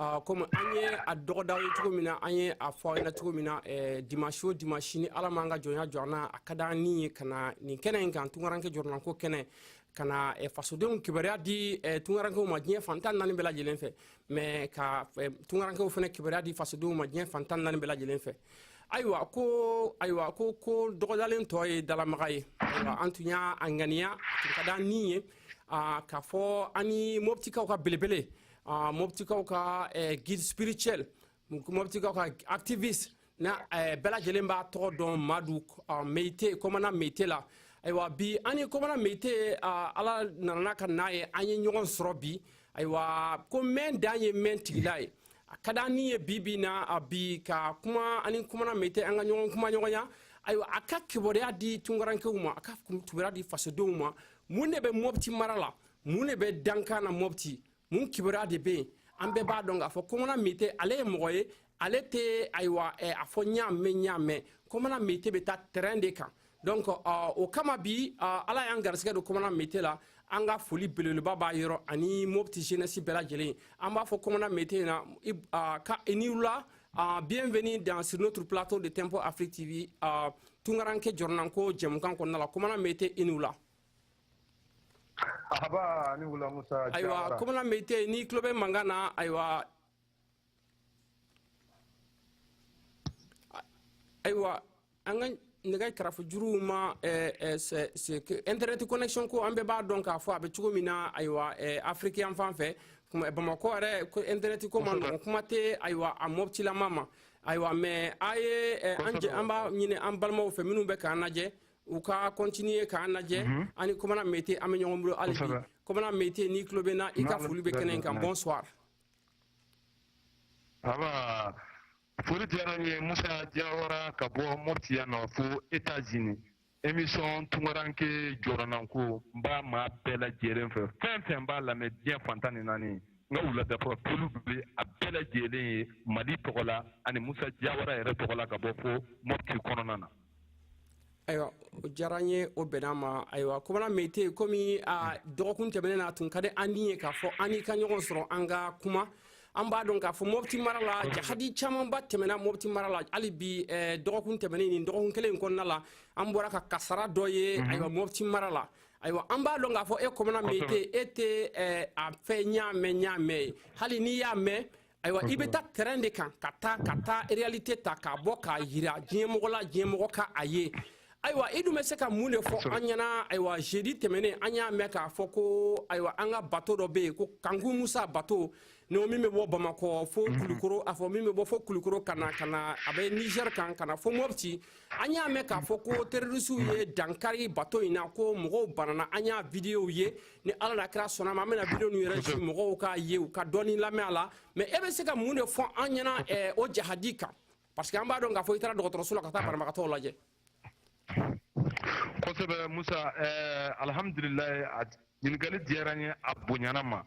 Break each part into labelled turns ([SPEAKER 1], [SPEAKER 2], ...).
[SPEAKER 1] Ah, comme an ye a dɔgɔda aw ye cogo min na an ye a fɔ na cogo min na eh, dimanche o dimanche ni ala m'an ka jɔnya jɔ an na a ka d'an ni ye ka na nin kɛnɛ in kan tungaranke jɔrɔnanko kɛnɛ ka na eh, fasodenw kibaruya di eh, tungarankew ma diɲɛ fan tan ni naani bɛɛ lajɛlen fɛ mais ka eh, tungarankew fana kibaruya di fasodenw ma diɲɛ fan tan ni naani bɛɛ lajɛlen fɛ ayiwa ko ayiwa ko ko dɔgɔdalen tɔ ye dalamaga ye ayiwa an tun y'a ŋaniya tun ka d'an ni ye ah, k'a fɔ an ni mɔbitikaw ka belebele Ah, mɔbitikaw ka eh, guide spirituel mɔbitikaw ka activiste na eh, bɛɛ lajɛlen b'a tɔgɔ dɔn madu ah, meyite kɔmana meyite la ayiwa bi an ni kɔmana meyite ah, ala nanana ka n'a ye an ye ɲɔgɔn sɔrɔ bi ayiwa ko mɛn dan ye mɛn tigi la ye a ka d'an ni ye bi bi na a bi ka kuma an ni kɔmana meyite an ka ɲɔgɔn kumaɲɔgɔnya ayiwa a ka kibaruya di tunkarankew ma a ka kibaruya di fasodenw ma mun de bɛ mɔbiti mara la mun de bɛ dankan na mɔpti mun kibaruya de bɛ yen an bɛɛ b'a dɔn k'a fɔ kɔmana mete ale ye mɔgɔ ye ale tɛ ayiwa eh, a fɔ n y'a mɛn n y'a mɛn kɔmana mete bɛ taa terrain de kan donc uh, o kama bi uh, ala y'an garisigɛ don kɔmana mete la an ka foli belebeleba b'a yɔrɔ ani mopti jeunesse bɛɛ lajɛlen an b'a fɔ kɔmana mete na uh, ko i ni wula Uh, bienvenue dans sur notre plateau de Tempo Afrique TV. Uh, tungaranke jɔrɔnanko jɛmukan kɔnɔna la, kɔmana mete i ni wula. Ayiwa ko mete n'i tulo bɛ mankan na ayiwa ayiwa an ka nɛgɛ karafe juru ma internet connexion ko an bɛɛ b'a dɔn k'a fɔ a bɛ cogo min na ayiwa afirike an fan fɛ bamakɔ yɛrɛ internet ko man nɔgɔn kuma tɛ ayiwa a mɔtilamaa ma ayiwa mais a ye an b'a ɲini an balimaw fɛ minnu bɛ k'an lajɛ u ka continuer k'an lajɛ mhm. an ni komana mete an bɛ ɲɔgɔn bolo hali bi komana mete n'i tulo b'an na i ka foli bɛ kɛnɛ in kan bonsoir aba foli diyara n ye musa jawara ka bɔ moti yan na fo etats-unis émission tunkaranke jɔrɔnanko n b'a maa bɛɛ lajɛlen fo fɛn o fɛn b'a lamɛn diɲɛ fan tan ni naani n ka wuladafɛ foli bɛ a bɛɛ lajɛlen ye mali tɔgɔ la ani musa jawara yɛrɛ tɔgɔ la ka bɔ fo moti kɔnɔna na ayiwa o diyara n ye o bɛnna n ma ayiwa kɔmana meyite komi a dɔgɔkun tɛmɛnen na a tun ka di an ni ye k'a fɔ an n'i ka ɲɔgɔn sɔrɔ an ka kuma an b'a dɔn k'a fɔ mɔbiti mara la jahadi camanba tɛmɛna mɔbiti mara la hali bi eh, dɔgɔkun tɛmɛnen nin dɔgɔkun kelen in kɔnɔna la an bɔra ka kasara dɔ ye mhm. ayiwa mɔbiti mara la ayiwa an b'a dɔn k'a fɔ e kɔmana meyite e tɛ eh, a fɔ n y'a mɛn n y'a mɛn ye hali n'i y'a mɛn ayiwa i bɛ taa tɛrɛn de kan ka taa ka taa réalité ta k'a bɔ k'a jira diɲɛmɔgɔ la diɲɛmɔgɔ ka a ye ayiwa i dun bɛ se ka mun de fɔ an ɲɛna ayiwa jeudi tɛmɛnen an y'a mɛn k'a fɔ ko ayiwa an ka bato dɔ bɛ yen ko kanku musa bato ni min bɛ bɔ bamakɔ fo mhm. kulukoro a fɔ min bɛ bɔ fo kulukoro ka na ka na a bɛ niger kan ka na fo mopti an y'a mɛn k'a fɔ ko terrorisiw ye dankari bato in na ko mɔgɔw banana an y'a videow ye ni ala n'a kira sɔnna ma an bɛna video ninnu yɛrɛ ci mɔgɔw k'a ye u ka dɔɔni lamɛn a la mais e bɛ se ka mun de fɔ an ɲɛna eh, o jahadi kan parce que an b'a dɔn k'a fɔ i taara dɔgɔtɔrɔso la ka taa banabagatɔw lajɛ kosɛbɛ musa eh, alhamdulilayi a ɲininkali diyara n ye a bonyana n ma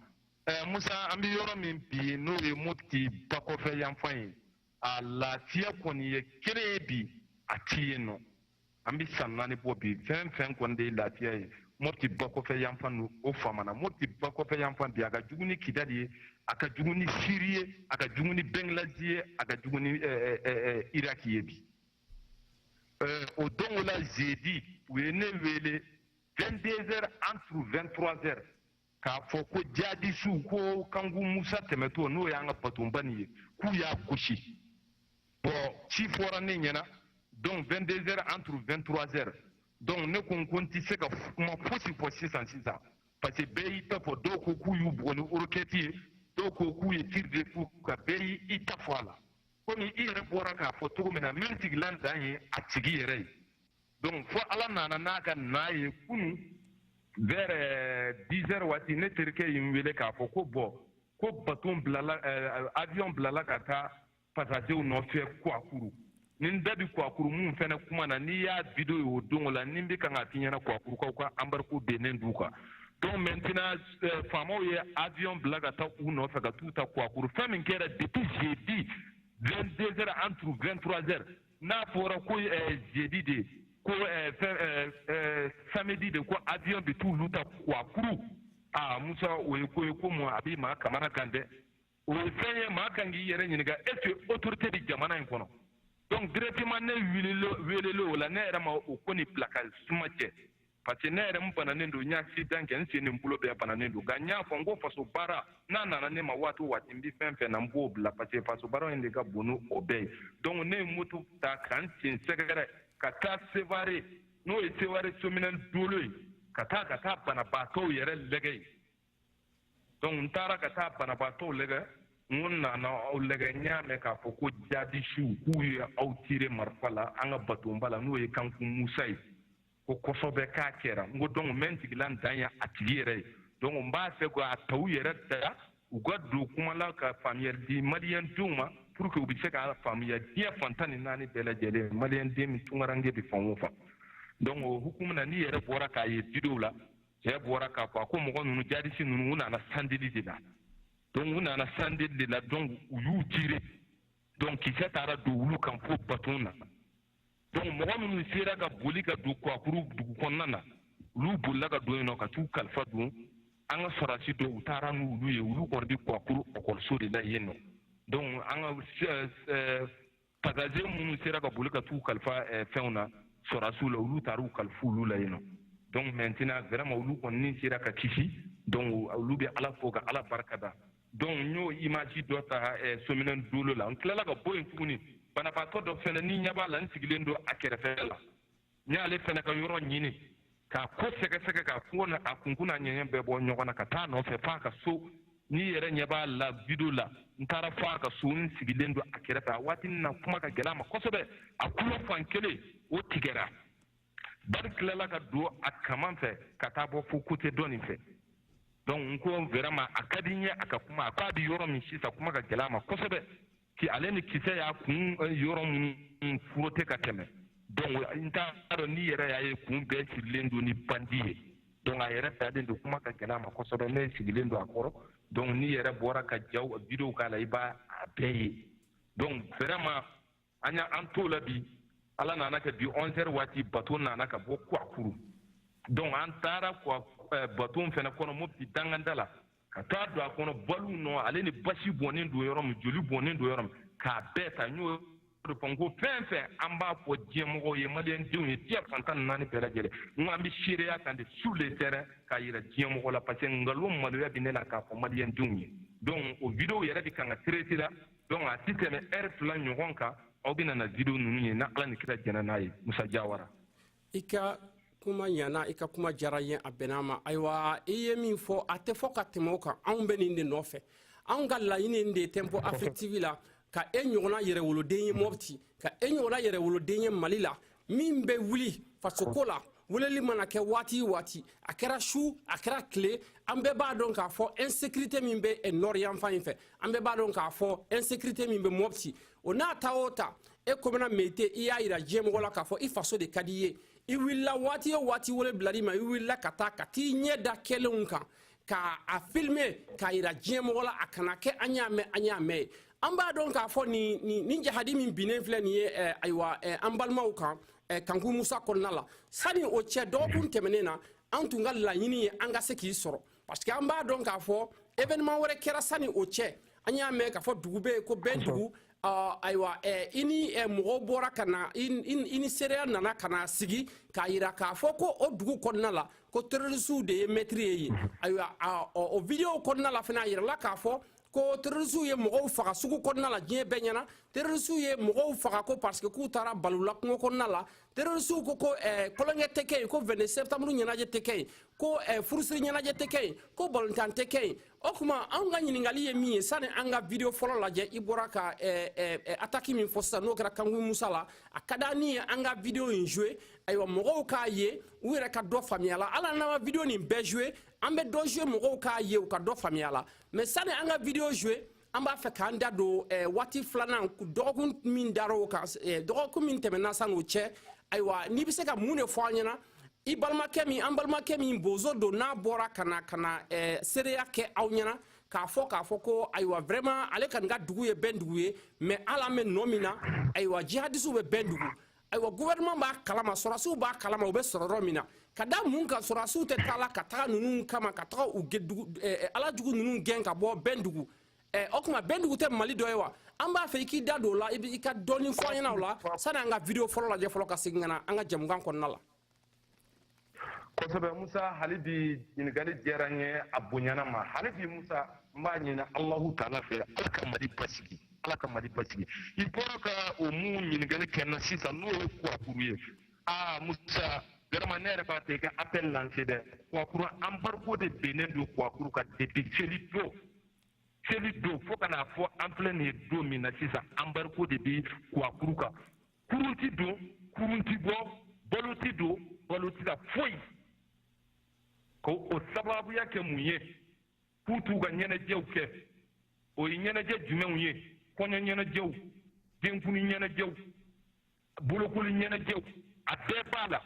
[SPEAKER 1] eh, musa an bɛ yɔrɔ min bi n'o ye mopti bakɔfɛ yanfan ye a lafiya kɔni ye kelen ye bi a ti yen nɔ an bɛ san naani bɔ bi fɛn fɛn kɔni de ye lafiya ye mopti bakɔfɛ yanfan n'o famana mopti bakɔfɛ yanfan bi a ka jugu ni kidali ye a ka jugu ni siri ye a ka jugu ni bɛngilazi ye a ka jugu ni eh, eh, eh, iraki ye bi o don o la jeudi u ye ne wele 22 heures entre 23 heures k'a fɔ ko jihadisiw ko kanku musa tɛmɛtɔ n'o y'an ka batonba nin ye k'u y'a gosi bon ci fɔra ne ɲɛna donc 22 heures entre 23 heures donc ne ko n ko n tɛ se ka kuma fosi fɔ sisan sisan parce que bɛɛ y'i ta fɔ dɔw ko k'u y'u bugɔ ni orokɛti ye dɔw ko k'u ye tiri de k'u kan bɛɛ y'i ta fɔ a la komi i yɛrɛ bɔra k'a fɔ cogo min na min sigilan dan ye a tigi yɛrɛ ye donc fo ala nana n'a ka na ye kunu vers 10 heures waati ne terikɛ ye n wele k'a fɔ ko bon ko baton bilala euh, avion bilala ka taa pasajew nɔfɛ kuakuru ni n da bi kuakuru min fɛnɛ kuma na n'i y'a video ye o dongo la ni n bɛ kan k'a f'i ɲɛna kuakurukaw ka embargo binnen d'u kan donc maintenant euh, faamaw ye avion bila ka taa u nɔfɛ ka t'u ta kuakuru fɛn min kɛra depuis jeudi 22 heures entre 23 heures n'a fɔra ko eh, jeudi de ko eh, eh, samedi de ko avion bɛ t'olu ta kuakuru aa musa o ye ko ye ko mun a bɛ maa kamana kan dɛ o ye fɛn ye maa kan k'i yɛrɛ ɲininka est ce que autorité bɛ jamana in kɔnɔ donc directement ne welelen o la ne yɛrɛ ma o ko nin bila ka suma cɛ parce que ne yɛrɛ n bananen don n ye accident kɛ n sen ni n bolo bɛɛ bananen don nka n y'a fɔ n ko faso baara n'a nana ne ma waati o waati n bɛ fɛn fɛn na n b'o bila parce que faso baara in de ka bon ni o bɛɛ ye donc ne ye moto ta ka n sen sɛgɛrɛ ka taa sevare n'o ye sevare somine dolo ye ka taa ka taa banabaatɔw yɛrɛ lɛgɛ ye donc n taara ka taa banabaatɔw lajɛ n ko n nana aw lajɛ n y'a mɛn k'a fɔ ko jadisiw k'u ye aw tire marifa la an ka batonba la n'o ye kankun musa ye ko kosɛbɛ k'a kɛra n ko donc n bɛ n sigila n dan ye a tigi yɛrɛ ye donc n b'a fɛ k'a ta u yɛrɛ da u ka don kuma la ka faamuyali di maliyɛn denw ma pour que u bɛ se k'a faamuya diɲɛ fan tan ni naani bɛɛ lajɛlen maliyɛn den min tunkaranke bɛ fan o fan donc o hukumu na n'i yɛrɛ bɔra k'a ye videow la cɛ bɔra k'a fɔ a ko mɔgɔ ninnu jadisi ninnu u nana sandeli de la donc u nana sandeli de la donc u y'u tire donc kisɛ taara don olu kan fo baton na donc mɔgɔ minnu sera ka boli ka don kuwakuru dugu kɔnɔna na olu bolila ka don yen nɔ ka t'u kalifa donc an ka sɔrɔdasi dɔw u taara n'olu ye olu kɔni bɛ kuwakuru ɔkɔliso de la yen nɔ donc an ka pasazeri minnu sera ka boli ka t'u kalifa eh, fɛnw na sɔrasiw la olu taar'u kalifa olu la yen nɔ donc maintenant vraiment olu kɔni sera ka kisi donc olu bɛ ala fo ka ala barika da donc n y'o image dɔ ta eh, sominɛ dolo la n tilala ka bɔ yen tuguni banabaatɔ dɔ fɛnɛ n'i ɲɛ b'a la n sigilen don a kɛrɛfɛ la n y'ale fana ka yɔrɔ ɲini k'a ko sɛgɛsɛgɛ k'a kunkun n'a ɲɛɲɛ bɛɛ bɔ ɲɔgɔn na ka taa nɔfɛ f'a ka so n'i yɛrɛ ɲɛ b'a la video la n taara fo a ka so n sigilen don a kɛrɛfɛ a waati na kuma ka gɛlɛ a ma kosɛbɛ a kulo fan kelen o tigɛra bali tilala ka don a kaman fɛ ka taa bɔ fo côté dɔ nin fɛ donc n ko vraiment a ka di n ye a ka kuma a ko a bɛ yɔrɔ min sisan kuma ka gɛlɛ a ma kosɛbɛ ki ale ni kisɛ y'a kun eh, yɔrɔ minnu frotter ka tɛmɛ donc n t'a dɔn n'i yɛrɛ y'a ye kun bɛɛ sirilen don ni bandi ye donc a yɛrɛ dalen don kuma ka gɛlɛ a ma kosɛbɛ ne sigilen don a kɔrɔ donc n'i yɛrɛ bɔra ka jaw videow k'a la i b'a a bɛɛ ye donc vraiment an y'an to o la bi ala nan'a kɛ bi 11 heures waati bato nana ka bɔ kuakuru donc an taara eh, baton fana kɔnɔ mopti dankan da la ka taa don a kɔnɔ baliw nɔ ale ni basi bɔnnen don yɔrɔ min joli bɔnnen don yɔrɔ min k'a bɛɛ ta n y'o de fɔ n ko fɛn fɛn an b'a fɔ diɲɛmɔgɔw ye maliyɛndenw ye diɲɛ fan tan ni naani bɛɛ lajɛlen n ko an bɛ seereya kan de sur le terrain k'a yira diɲɛmɔgɔ la parce que nkalon maloya bɛ ne la k'a fɔ maliyɛndenw ye donc o video yɛrɛ bɛ kan ka traiter la donc a tɛ tɛmɛ heure fila ɲɔgɔn kan aw bɛna na video ninnu ye ni ala ni kira jɛnna n'a ye musa jawara i ka kuma ɲana i ka kuma diyara an ye a bɛn'a ma ayiwa i ye min fɔ a tɛ fɔ ka tɛmɛ o kan anw bɛ nin de nɔfɛ anw ka laɲini de ye tempo afric tv la ka e ɲɔgɔnna yɛrɛwoloden ye mɔpti ka e ɲɔgɔnna yɛrɛwoloden ye mali la min bɛ wuli fasoko la weleli mana kɛ waati waati a kɛra su a kɛra tile an bɛɛ b'a dɔn k'a fɔ insécurité min bɛ nord yanfan in fɛ an bɛɛ b'a dɔn k'a fɔ insécurité min bɛ mɔpti o n'a ta o ta e komina mete i y'a yira diɲɛmɔgɔ la k'a fɔ i faso de ka di i ye i wulila waati o waati wele bilal'i ma i wulila ka taa ka t'i ɲɛ da kɛlenw kan k'a filime k'a yira diɲɛmɔgɔ la a kana kɛ an y'a mɛn an y'a mɛn ye an b'a dɔn k'a fɔ nin nin nin jahadi min binnen filɛ nin ye eh, ayiwa eh, an balimaw kan eh, kanku musa kɔnɔna la sani o cɛ dɔgɔkun tɛmɛnen na an tun ka laɲini ye an ka se k'i sɔrɔ parce que an b'a dɔn k'a fɔ événement wɛrɛ kɛra sani o cɛ an y'a mɛn k'a fɔ dugu bɛ yen ko bɛndugu ayiwa i ni mɔgɔw bɔra ka na i ni seereya nana ka na sigi k'a yira k'a fɔ ko o dugu kɔnɔna la ko terrorisiw de ye maître ye yen ayiwa o videow kɔnɔna la fana a yirala k'a fɔ ko terrorisiw ye mɔgɔw faga sugu kɔnɔna la diɲɛ bɛɛ ɲɛna terrorisiw ye mɔgɔw faga ko parce que k'u taara bal'u la kungo kɔnɔna la terrorisiw ko ko eh, kolonkɛ tɛ kɛ yen ko 22 septembre ɲɛnajɛ tɛ kɛ yen ko eh, furusiri ɲɛnajɛ tɛ kɛ yen ko balontan tɛ kɛ yen o tuma anw ka ɲininkali ye min ye sani an ka video fɔlɔ lajɛ i bɔra ka eh, eh, eh ataki min fɔ sisan n'o kɛra kanku musa la a ka di n ye an ka video in jouer ayiwa mɔgɔw k'a ye u yɛrɛ ka dɔ faamuy'a la hali an n'an ma video nin bɛɛ jouer an bɛ dɔ jouer mɔgɔw k'a ye u ka dɔ faamuy'a la mais sani an ka video jouer an b'a fɛ k'an da don eh, waati filanan dɔgɔkun min dara o kan eh, dɔgɔkun min tɛmɛna san'o cɛ ayiwa n'i bɛ se ka mun de fɔ an ɲɛna i balimakɛ min an balimakɛ min bozo don n'a bɔra ka na ka na eh, seereya kɛ aw ɲɛna k'a fɔ k'a fɔ ko ayiwa vraiment ale kɔni ka dugu ye bɛndugu ye mais ala an bɛ nɔ min na ayiwa jihadisiw bɛ bɛndugu ayiwa gouvernement b'a kalama sɔrɔdasiw b'a kalama u bɛ sɔrɔ yɔrɔ min na ka da mun kan sɔrɔdasiw tɛ taa la ka taga ninnu kama ka taga u eh, eh, ala jugu ninnu gɛn ka bɔ bɛndugu eh, o tuma bɛndugu tɛ mali dɔ ye wa an b'a fɛ i k'i da don o la i ka dɔɔni fɔ an ɲɛna o la sani an ka video fɔlɔ lajɛ fɔlɔ ka segin ka na an ka jɛmukan kɔnɔna la kosɛbɛ musa hali bi ɲininkali diyara n ye a bonyana n ma hali bi musa n b'a ɲini alahu taala fɛ ala ka mali basigi ala ka mali basigi i bɔra ka ko min ɲininkali kɛ n na sisan n'o ye kuwakuru ye aa musa garama ne yɛrɛ b'a fɛ i ka appel lancer dɛ kuwakuru embargo de binnen don kuwakuru kan depuis seli don seli don fo ka n'a fɔ an filɛ nin ye don min na sisan embargo de bɛ kuwakuru kan kurun ti don kurun ti bɔ balo ti don balo ti ka foyi k'o sababuya kɛ mun ye k'u t'u ka ɲɛnajɛw kɛ o ye ɲɛnajɛ jumɛnw ye kɔɲɔ ɲɛnajɛw denkundi ɲɛnajɛw bolokoli ɲɛnajɛw a bɛɛ b'a la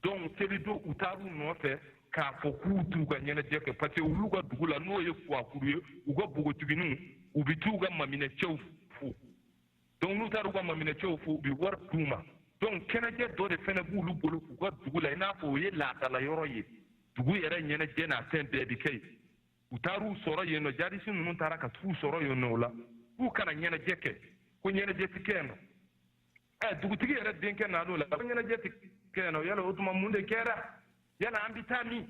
[SPEAKER 1] donc seli don u taar'u nɔfɛ k'a fɔ k'u t'u ka ɲɛnajɛ kɛ parce que olu ka dugu la n'o ye kuwakuru ye u ka npogotiginiw u bɛ t'u ka maminɛcɛw fo donc n'u taara u ka maminɛcɛw fo u bɛ wari d'u ma donc kɛnɛjɛ dɔ de fɛnɛ b'olu bolo k'u ka dugu la i n'a fɔ o ye laadala yɔrɔ ye dugu yɛrɛ ɲɛnajɛ n'a fɛn bɛɛ bɛ kɛ yen u taar'u sɔrɔ yen nɔ jadisi ninnu taara ka t'u sɔrɔ yen nɔ o la k'u kana ɲɛnajɛ kɛ ko ɲɛnajɛ tɛ kɛ yen nɔ ɛ dugutigi yɛrɛ denkɛ nan'o la ko ɲɛnajɛ tɛ kɛ yen nɔ yala o tuma mun de kɛra yala an bɛ taa min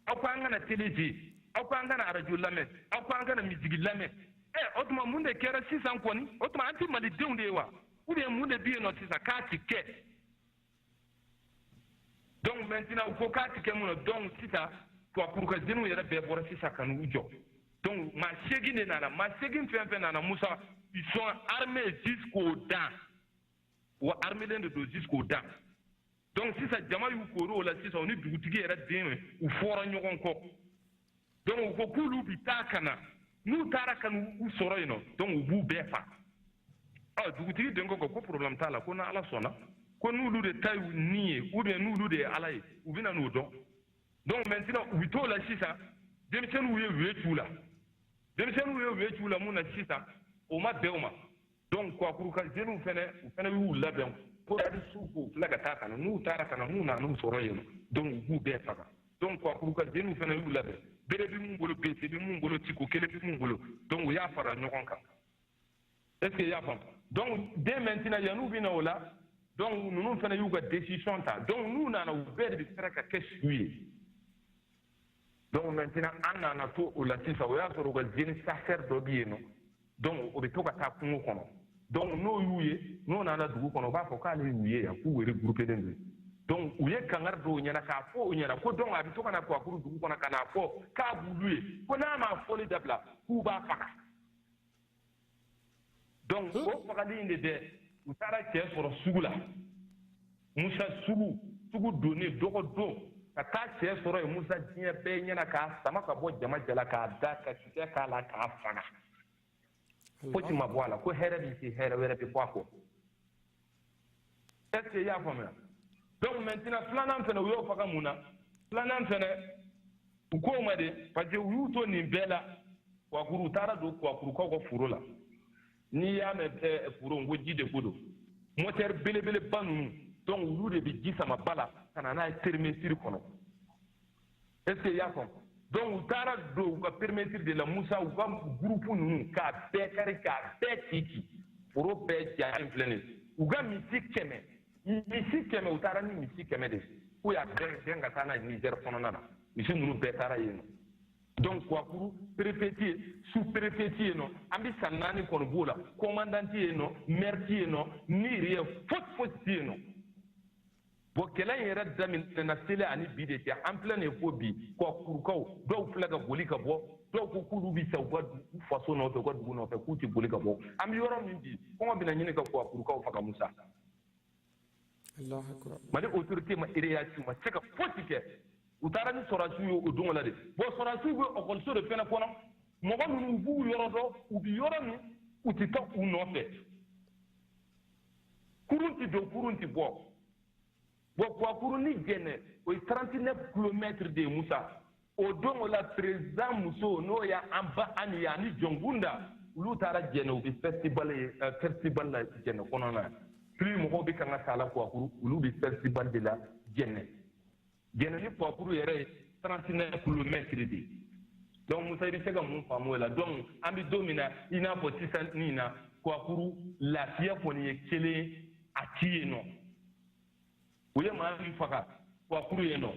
[SPEAKER 1] aw ko an kana tele lajɛ aw ko an kana arajo lamɛn aw ko an kana miziki lamɛn ɛ eh, o tuma mun de kɛra sisan kɔni o tuma an tɛ malidenw de ye wa ou bien mun de bɛ yen nɔ sisan k'a ti kɛ donc maintenant u ko k'a ti kɛ mun na donc sisan kuwakuru ka jeniw yɛrɛ bɛɛ bɔra sisan ka n'u jɔ donc maa seegin de nana maa seegin fɛn fɛn nana musa ils sont armés jusqu'aux dents wa armelen de don jusqu'aux dents donc sisan jama y'u kori o la sisan u ni dugutigi yɛrɛ den u fɔra ɲɔgɔn kɔ donc u ko k'olu bi taa ka na n'u taara ka n'u sɔrɔ yen nɔ donc u b'u bɛɛ faga ɔ dugutigi den ko ko problème t'a la ko n'ala sɔnna ko n'olu de ta y'u ni ye ou bien n'olu de ye ala ye u bɛna n'o dɔn donc maintenant u bɛ t'o la sisan denmisɛnninw ye u ye t'u la denmisɛnninw ye u ye t'u la mun na sisan o ma bɛn u ma donc kuwakuru ka jeniw fɛnɛ u fɛnɛ y'u labɛn ko arisiw k'u filɛ ka taa ka na n'u taara ka na n'u nana n'u sɔrɔ yen donc u b'u bɛɛ faga donc kuwakuru ka jeniw fɛnɛ y'u labɛn bere bi mun bolo bese bi mun bolo tiko kelen bi mun bolo donc u y'a fara ɲɔgɔn kan est ce que i y'a faamu donc dès maintenant yan'u bɛ na o la donc ninnu fɛnɛ y'u ka décision ta donc n'u nana u bɛɛ de bɛ fara ka kɛ su ye donc maintenant an nana to o la sisan o y'a sɔrɔ u ka jeune chasseur dɔ bɛ yen nɔ donc o bɛ to ka taa kungo kɔnɔ donc n'o y'u ye n'o nana dugu kɔnɔ o b'a fɔ k'ale y'u ye yan k'u regroupelen don donc u ye kangari d'o ɲɛna k'a fɔ o ɲɛna ko donc a bɛ to ka na kuwakuru dugu kɔnɔ ka n'a fɔ k'a b'olu ye ko n'a m'a fɔli dabila k'u b'a faga donc o fagali in de dɛ u taara cɛ sɔrɔ sugu la musa sugu sugu don na dɔgɔ don ka taa cɛ sɔrɔ yen musa diɲɛ bɛɛ ɲɛna k'a sama ka bɔ jama cɛla k'a da ka kisɛ k'a la k'a faga foyi ma bɔ a la ko hɛrɛ min tɛ hɛrɛ wɛrɛ bɛ bɔ a kɔ est ce que i y'a faamuya donc maintenant filanan fɛnɛ u y'o faga mun na filanan fɛnɛ u k'o ma de parce que u y'u to nin bɛɛ la kuwakuru u taara don kuwakurukaw ka foro la n'i y'a mɛn eh, foro n ko ji de ko don motɛri belebeleba ninnu donc olu de bɛ ji sama ba la ka na n'a ye périmètre kɔnɔ est ce que i y'a faamu donc u taara don u ka perimetiri de la musa u ka gurupu ninnu k'a bɛɛ kari k'a bɛɛ cici foro bɛɛ jalen filɛ nin u ka misi kɛmɛ misi kɛmɛ u taara ni misi kɛmɛ de k'u y'a bɛɛ gɛn ka taa n'a ye nizɛr kɔnɔna na misi ninnu bɛɛ taara yen nɔ donc kuwakuru perefe ti yen su perefe ti yen nɔ an bɛ san naani kɔni b'o la kɔmandan ti yen nɔ mɛri ti yen nɔ n'y a rien fosi fosi ti yen nɔ bon kɛlɛ in yɛrɛ daminɛna sele ani bi de cɛ an filɛ nin fo bi kuwakurukaw dɔw filɛ ka boli ka bɔ dɔw ko k'olu bɛ sa u ka faso nɔfɛ u ka dugu nɔfɛ k'u tɛ boli ka bɔ an bɛ yɔrɔ min bi kɔngɔ bɛna ɲini ka kuwakurukaw faga musa mali autorité ma réaction ma se ka fosi kɛ u taara ni sɔrɔdasiw ye o don la de bon sɔrɔdasiw bɛ ekɔliso de fɛnɛ kɔnɔ mɔgɔ ninnu b'u yɔrɔ dɔn u bɛ yɔrɔ min u tɛ taa u nɔfɛ kurun tɛ don kurun tɛ bɔ bon kuwakurun ni jɛnɛ o ye 39 kilomɛtiri de ye musa o don o la perezidan muso n'o ye an ba ami ye ani jɔnkunda olu taara jɛnɛ u bɛ festival ye festival la jɛnɛ kɔnɔna na plus mɔgɔw bɛ kan ka taa la kuwakuru olu bɛ festival de la jɛnɛ jɛnɛ ni kuwakuru yɛrɛ ye trente neuf kilomɛtiri de donc musa i bɛ se ka mun faamu o la donc an bɛ don min na i n'a fɔ sisan nin na kuwakuru lafiya kɔni ye kelen a ti yen nɔ u ye maa min faga kuwakuru yen nɔ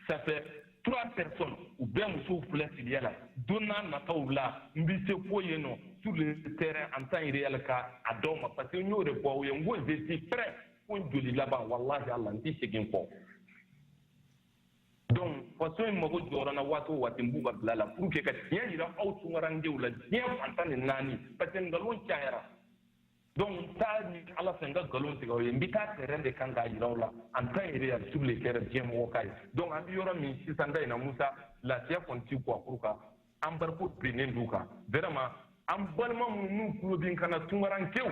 [SPEAKER 1] ça fait trois personnes u bɛɛ musow filɛ filiya la don n'a nataw la n bɛ se ko yen nɔ sur le terrain en temps réel ka a d'aw ma parce que n y'o de fɔ aw ye n ko je suis prêt fo n joli laban walahi ala n tɛ segin kɔ donc faso in mago jɔra n na waati o waati n b'u ka bila la pour que ka tiɲɛ jira aw tunkarandenw la diɲɛ fan tan ni naani parce que nkalon cayara donc n t'a ɲini ala fɛ n ka nkalon tigɛ aw ye n bɛ taa terrain de kan k'a jira aw la en temps réel sur le terrain diɲɛ mɔgɔ k'a ye donc an bɛ yɔrɔ min sisan da in na musa lafiya kɔni ti kuwakuru kan embargo bilalen d'u kan vraiment an balima minnu n'u tulo bɛ n kan na tunkarankew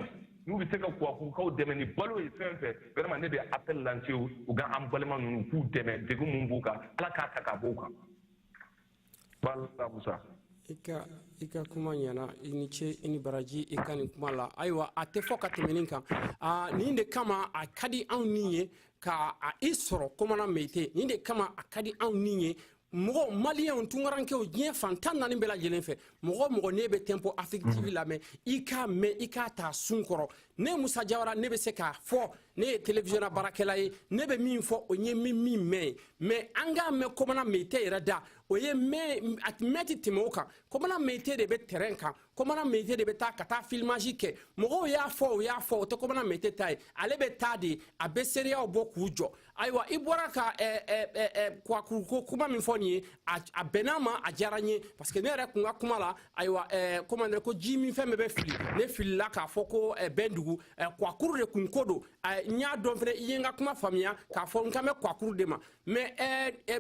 [SPEAKER 1] n'u bɛ se ka kuwakurukaw dɛmɛ ni balo ye fɛn fɛn vraiment ne bɛ appel lancer u ka an balima ninnu k'u dɛmɛ degun min b'u kan ala k'a ta ka b'u kan bala musa i ka i ka kuma ɲɛna i ni ce i ni baraji i ka nin kuma la ayiwa a tɛ fɔ ka tɛmɛ nin kan aa nin de kama a ka di anw ni ye ka a i sɔrɔ komana meyite nin de kama a ka di anw ni ye mɔgɔ maliyɛnw tunkarankew diɲɛ fan tan naani bɛɛ lajɛlen fɛ mɔgɔ o mɔgɔ n'i bɛ tempo afrik tv lamɛn i k'a mɛn i k'a ta sun kɔrɔ ne musa jawara ne bɛ se k'a fɔ ne ye televisiɔnna baarakɛla ye ne bɛ min fɔ o ye min min mɛn ye mais an k'a mɛn kɔmana meyite yɛrɛ da o ye mɛn ti tɛmɛ o kan kɔmana meyite de bɛ terrain kan komana mete de bɛ taa ka taa filimasi kɛ mɔgɔw y'a fɔ o y'a fɔ o tɛ komana mete ta ye ale bɛ taa de a bɛ seereyaw bɔ k'u jɔ ayiwa i bɔra ka eh, eh, eh, kwakuru ko kuma min fɔ nin ye a bɛn'a ma a diyara n ye parce que ne yɛrɛ kun ka kuma la ayiwa komande ko ji min fɛn bɛɛ bɛ fili ne filila k'a fɔ ko bɛndugu kwakuru de kun ko don n y'a dɔn fɛnɛ i ye n ka kuma faamuya k'a fɔ n kan bɛ kwakuru de ma mais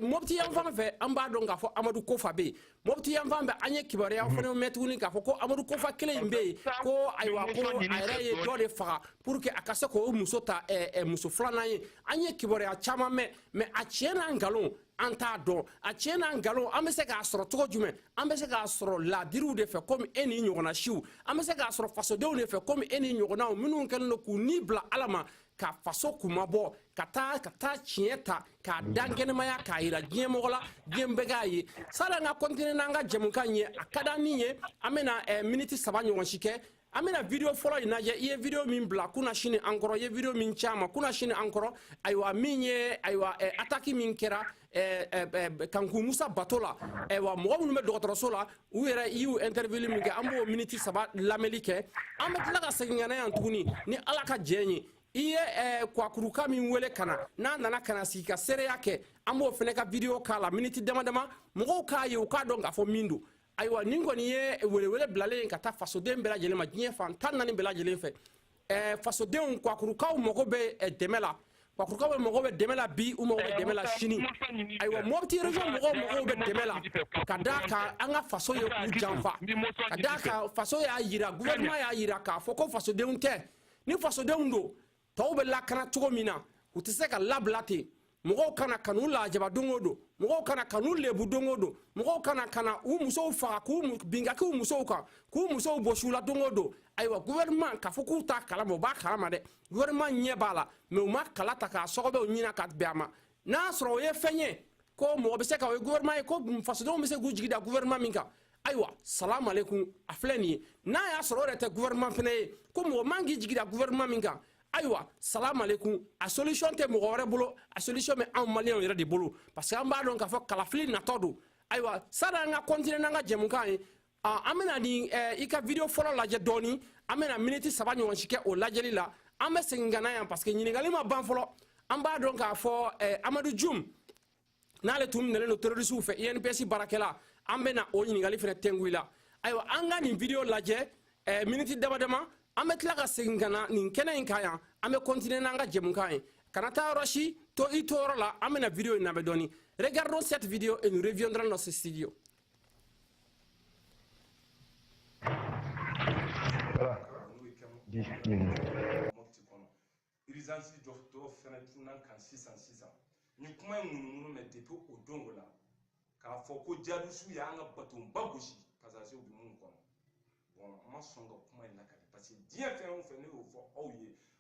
[SPEAKER 1] mɔpti yan fan fɛ an b'a dɔn k'a fɔ amadu kofa bɛ yen mɔpti yan fan fɛ an ye kibaruyaw fana mɛn tuguni k'a fɔ ko amadu kofa kelen in bɛ yen ko ayiwa ko a yɛrɛ ye dɔ de faga pour que a ka se k'o muso ta eh, eh, muso filanan ye an ye kibaruya caman mɛn mais a tiɲɛ n'a nkalon an t'a dɔn a tiɲɛ n'a nkalon an bɛ se k'a sɔrɔ cogo jumɛn an bɛ se k'a sɔrɔ laadiriw de fɛ komi e ni ɲɔgɔnna siw an bɛ se k'a sɔrɔ fasodenw de fɛ komi e ni ɲɔgɔnnaw minnu kɛlen don k'u ni bila ala ma ka faso kuma bɔ ka taa ka taa tiɲɛ ta k'a dakɛnɛmaya k'a yira diɲɛ mɔgɔ la diɲɛ bɛɛ k'a ye san'an ka kɔntine n'an ka jɛmukan ye a ka da min ye an bɛna eh, miniti saba ɲɔgɔn si kɛ an bɛna video fɔlɔ in lajɛ i ye video min bila kunasini an kɔrɔ i ye video min c'an ma kunasini an kɔrɔ ayiwa min ye ayiwa eh, ataki min kɛra Eh, eh, eh, kanku musa bato la ayiwa mɔgɔ minnu bɛ dɔgɔtɔrɔso la u yɛrɛ i y'u interview min kɛ an b'o miniti saba lamɛnli kɛ an bɛ tila ka segin ka na yan tuguni ni ala ka jɛn ye i ye kwakuruka min wele ka na n'a nana ka na sigi ka seereya kɛ an b'o fana ka video k'a la miniti dama dama mɔgɔw k'a ye u k'a dɔn k'a fɔ min don ayiwa nin kɔni ye welewele bilalen ye ka taa fasoden bɛɛ lajɛlen ma diɲɛ fan tan naani bɛɛ lajɛlen fɛ ɛɛ fasodenw kwakurukaw mago bɛ dɛmɛ la kwakurukaw bɛɛ mago bɛ dɛmɛ la bi u mago bɛ dɛmɛ la sini ayiwa mɔpti region mɔgɔw mago bɛ dɛmɛ la ka d'a kan an ka faso ye u janfa ka d'a kan faso y'a yira gouvernement y'a yira k'a fɔ ko fasodenw tɛ ni fasodenw don tɔw bɛ lakana cogo min na u tɛ se ka labila ten mɔgɔw ka na ka n'u lajaba don o don mɔgɔw ka na ka n'u lebu don o don mɔgɔw ka na ka na u musow faga ka bin ka bin u musow kan k'u musow bɔs'u la don o don ayiwa gouvernement k'a fɔ k'u t'a kalama u b'a kalama dɛ gouvernement ɲɛ b'a la mais u ma kala ta k'a sɔgɔbɛw ɲina ka bɛn a ma n'a sɔrɔ o ye fɛn ye ko mɔgɔ bɛ se ka o ye gouvernement ye ko fasodenw bɛ se k'u jigi da gouvernement min kan ayiwa salamu aleykum a filɛ nin ye n'a y'a sɔrɔ o yɛrɛ tɛ gouvernement fana ye ko mɔgɔ man kan k'i jigi da gouvernement min kan ayiwa salamu aleykum a solution tɛ mɔgɔ wɛrɛ bolo a solution bɛ anw maliyɛnw yɛrɛ de bolo parce que an b'a dɔn k'a fɔ kalafili natɔ don ayiwa sanni an ka continuer n'an ka jɛmukan ye aa an bɛna nin eh, i ka video fɔlɔ lajɛ dɔɔni an bɛna miniti saba ɲɔgɔn si kɛ o lajɛli la an bɛ segin ka na yan parce que ɲininkali ma ban fɔlɔ an b'a dɔn k'a fɔ eh, amadu jum n'ale tun minɛlen don terorisiw fɛ inps baarakɛla an bɛna o ɲininkali fana tɛngu i la ayiwa an ka nin video lajɛ eh, miniti dama dama an bɛ tila ka segin ka na nin kɛnɛ in kan yan an bɛ kɔntine n'an ka jɛmukan ye kana taa yɔrɔ si to i to yɔrɔ la an bɛna video in labɛn dɔɔni regardons cette vidéo et nous reviendrons dans ce studio irizansi dɔ fɛnɛ cunn'an kan sisan sisan ni kuma ye ŋunuŋunu mɛn depi o don o la k'a fɔ ko jihadisiw y'an ka batonba gosi pasazew bɛ min kɔnɔ bɔn n ma sɔn ka kuma in lakali parce que diɲɛ fɛn o fɛn ne y'o fɔ aw ye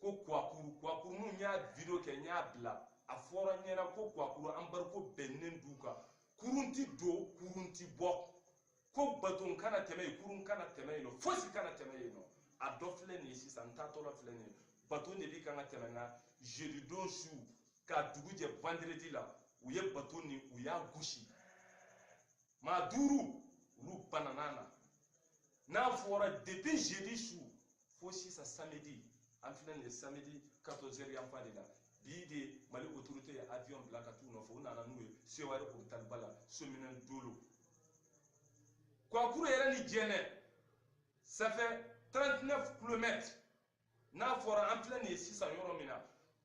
[SPEAKER 1] ko kuwakuru kuwakuru ne y'a video kɛ n y'a bila a fɔra n ɲɛna ko kuwakuru embargo binnen dugu kan kurun ti don kurun ti bɔ ko baton kana tɛmɛ yen kurun kana tɛmɛ yen nɔ fosi kana tɛmɛ yen nɔ a dɔ filɛ nin ye sisan n taatɔla filɛ nin ye baton de bi kan ka tɛmɛ nka jeudi don su ka dugu jɛ vendredi la u ye baton nin u y'a gosi maa duuru olu banana na n'a fɔra depuis jeudi su fo sisan samedi an filɛ nin ye samedi 14 heures yan fan de la bi de mali autorité ye avion bila ka t'u nɔfɛ u nana n'u ye sewari hôpitalba la somine dolo kuwakuru yɛrɛ ni jɛnɛ ça fait 39 kilomètres n'a fɔra an filɛ nin ye sisan yɔrɔ min na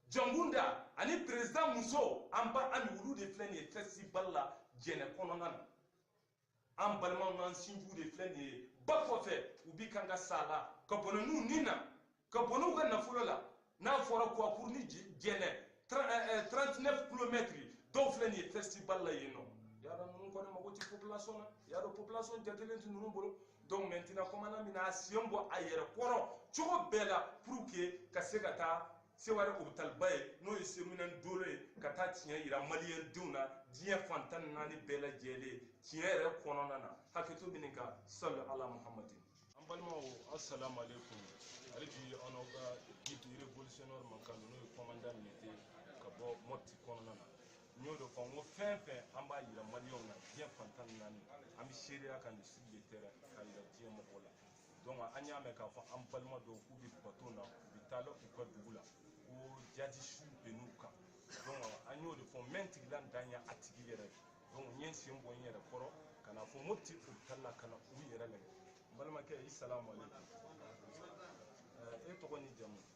[SPEAKER 1] jɔnkunda ani perezidan muso an ba ami olu de filɛ nin ye fɛsibali la jɛnɛ kɔnɔna na an balimaw n'an sinjiw de filɛ nin ye ba kɔfɛ u bi kan ka sa la ka bɔnɛ u ni na ka bɔnɛ u ka nafolo la n'a fɔra kuwakuru ni jɛnɛ 39 kilomɛtiri dɔw filɛ nin ye fɛsibali la yen nɔ y'a dɔn ninnu kɔni mago tɛ population na y'a dɔn population jatelen tɛ ninnu bolo donc maintenant commandant bɛna a sen bɔ a yɛrɛ kɔrɔ cogo bɛɛ la pour que ka se ka taa sewari opitaliba ye n'o ye somine dolo ye ka taa tiɲɛ yira maliyɛn denw na diɲɛ fan tan ni naani bɛɛ lajɛlen tiɲɛ yɛrɛ kɔnɔna na hakɛto min kan sali ala muhamadi an balimaw assalamu alaikum hali bi aw n'aw ka guide révolutionnaire man kan n'o ye commandant militaire ka bɔ mɔpti kɔnɔna na n y'o de fɔ n ko fɛn fɛn an b'a yira maliyɛnw na diɲɛ fantan ni naani an bɛ seereya kɛ sur le terrain ka yira diɲɛ mɔgɔw la donc an y'a mɛn k'a fɔ an balima dɔw k'u bɛ baton na u bɛ taa la u ka dugu la ko jihadisiw binn'u kan donc an y'o de fɔ n bɛ n tigila n dan ye a tigi yɛrɛ donc n ye n sen bɔ n yɛrɛ kɔrɔ ka na fo mopti hôpital la ka na u yɛrɛ lajɛ n balimakɛ i salamu aleykum e tɔgɔ ni jamu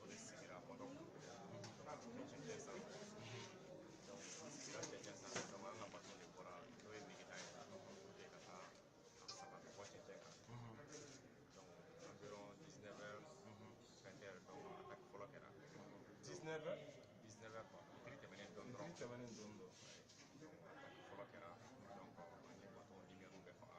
[SPEAKER 1] o de sigira mɔdɔ ka tɛmɛ cɛncɛn sanfɛ donc o sigira cɛncɛn sanfɛ donc an ka baton de bɔra n'o ye nigita ye ka bɔte ka taa a sama ka bɔ cɛncɛn kan donc environ 19 heures 20 heures donc attaque fɔlɔ kɛra 19 heures 19 heures quoi fitiri tɛmɛnen dɔɔnin dɔrɔn fitiri tɛmɛnen dɔɔnin dɔɔnin donc attaque fɔlɔ kɛra donc an ye baton lumière bɛɛ faga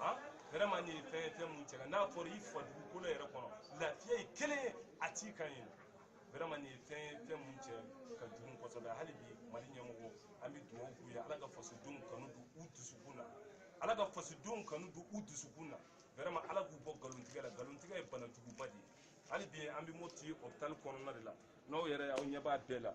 [SPEAKER 1] han vraiment nin ye fɛn ye fɛn mun cɛ ka n'a fɔra i fa dugukolo yɛrɛ kɔnɔ lafiya ye kelen ye a t'i kan yen vraiment nin ye fɛn ye fɛn mun cɛ ka jugu kosɛbɛ hali bi mali ɲɛmɔgɔw an bɛ dugawu k'u ye ala ka fasodenw kanu don u dusukun na ala ka fasodenw kanu don u dusukun na vraiment ala k'u bɔ nkalontigɛ la nkalontigɛ ye bana juguba de ye hali bi an bɛ moti hôpital kɔnɔna de la n'aw yɛrɛ aw ɲɛ b'a bɛɛ la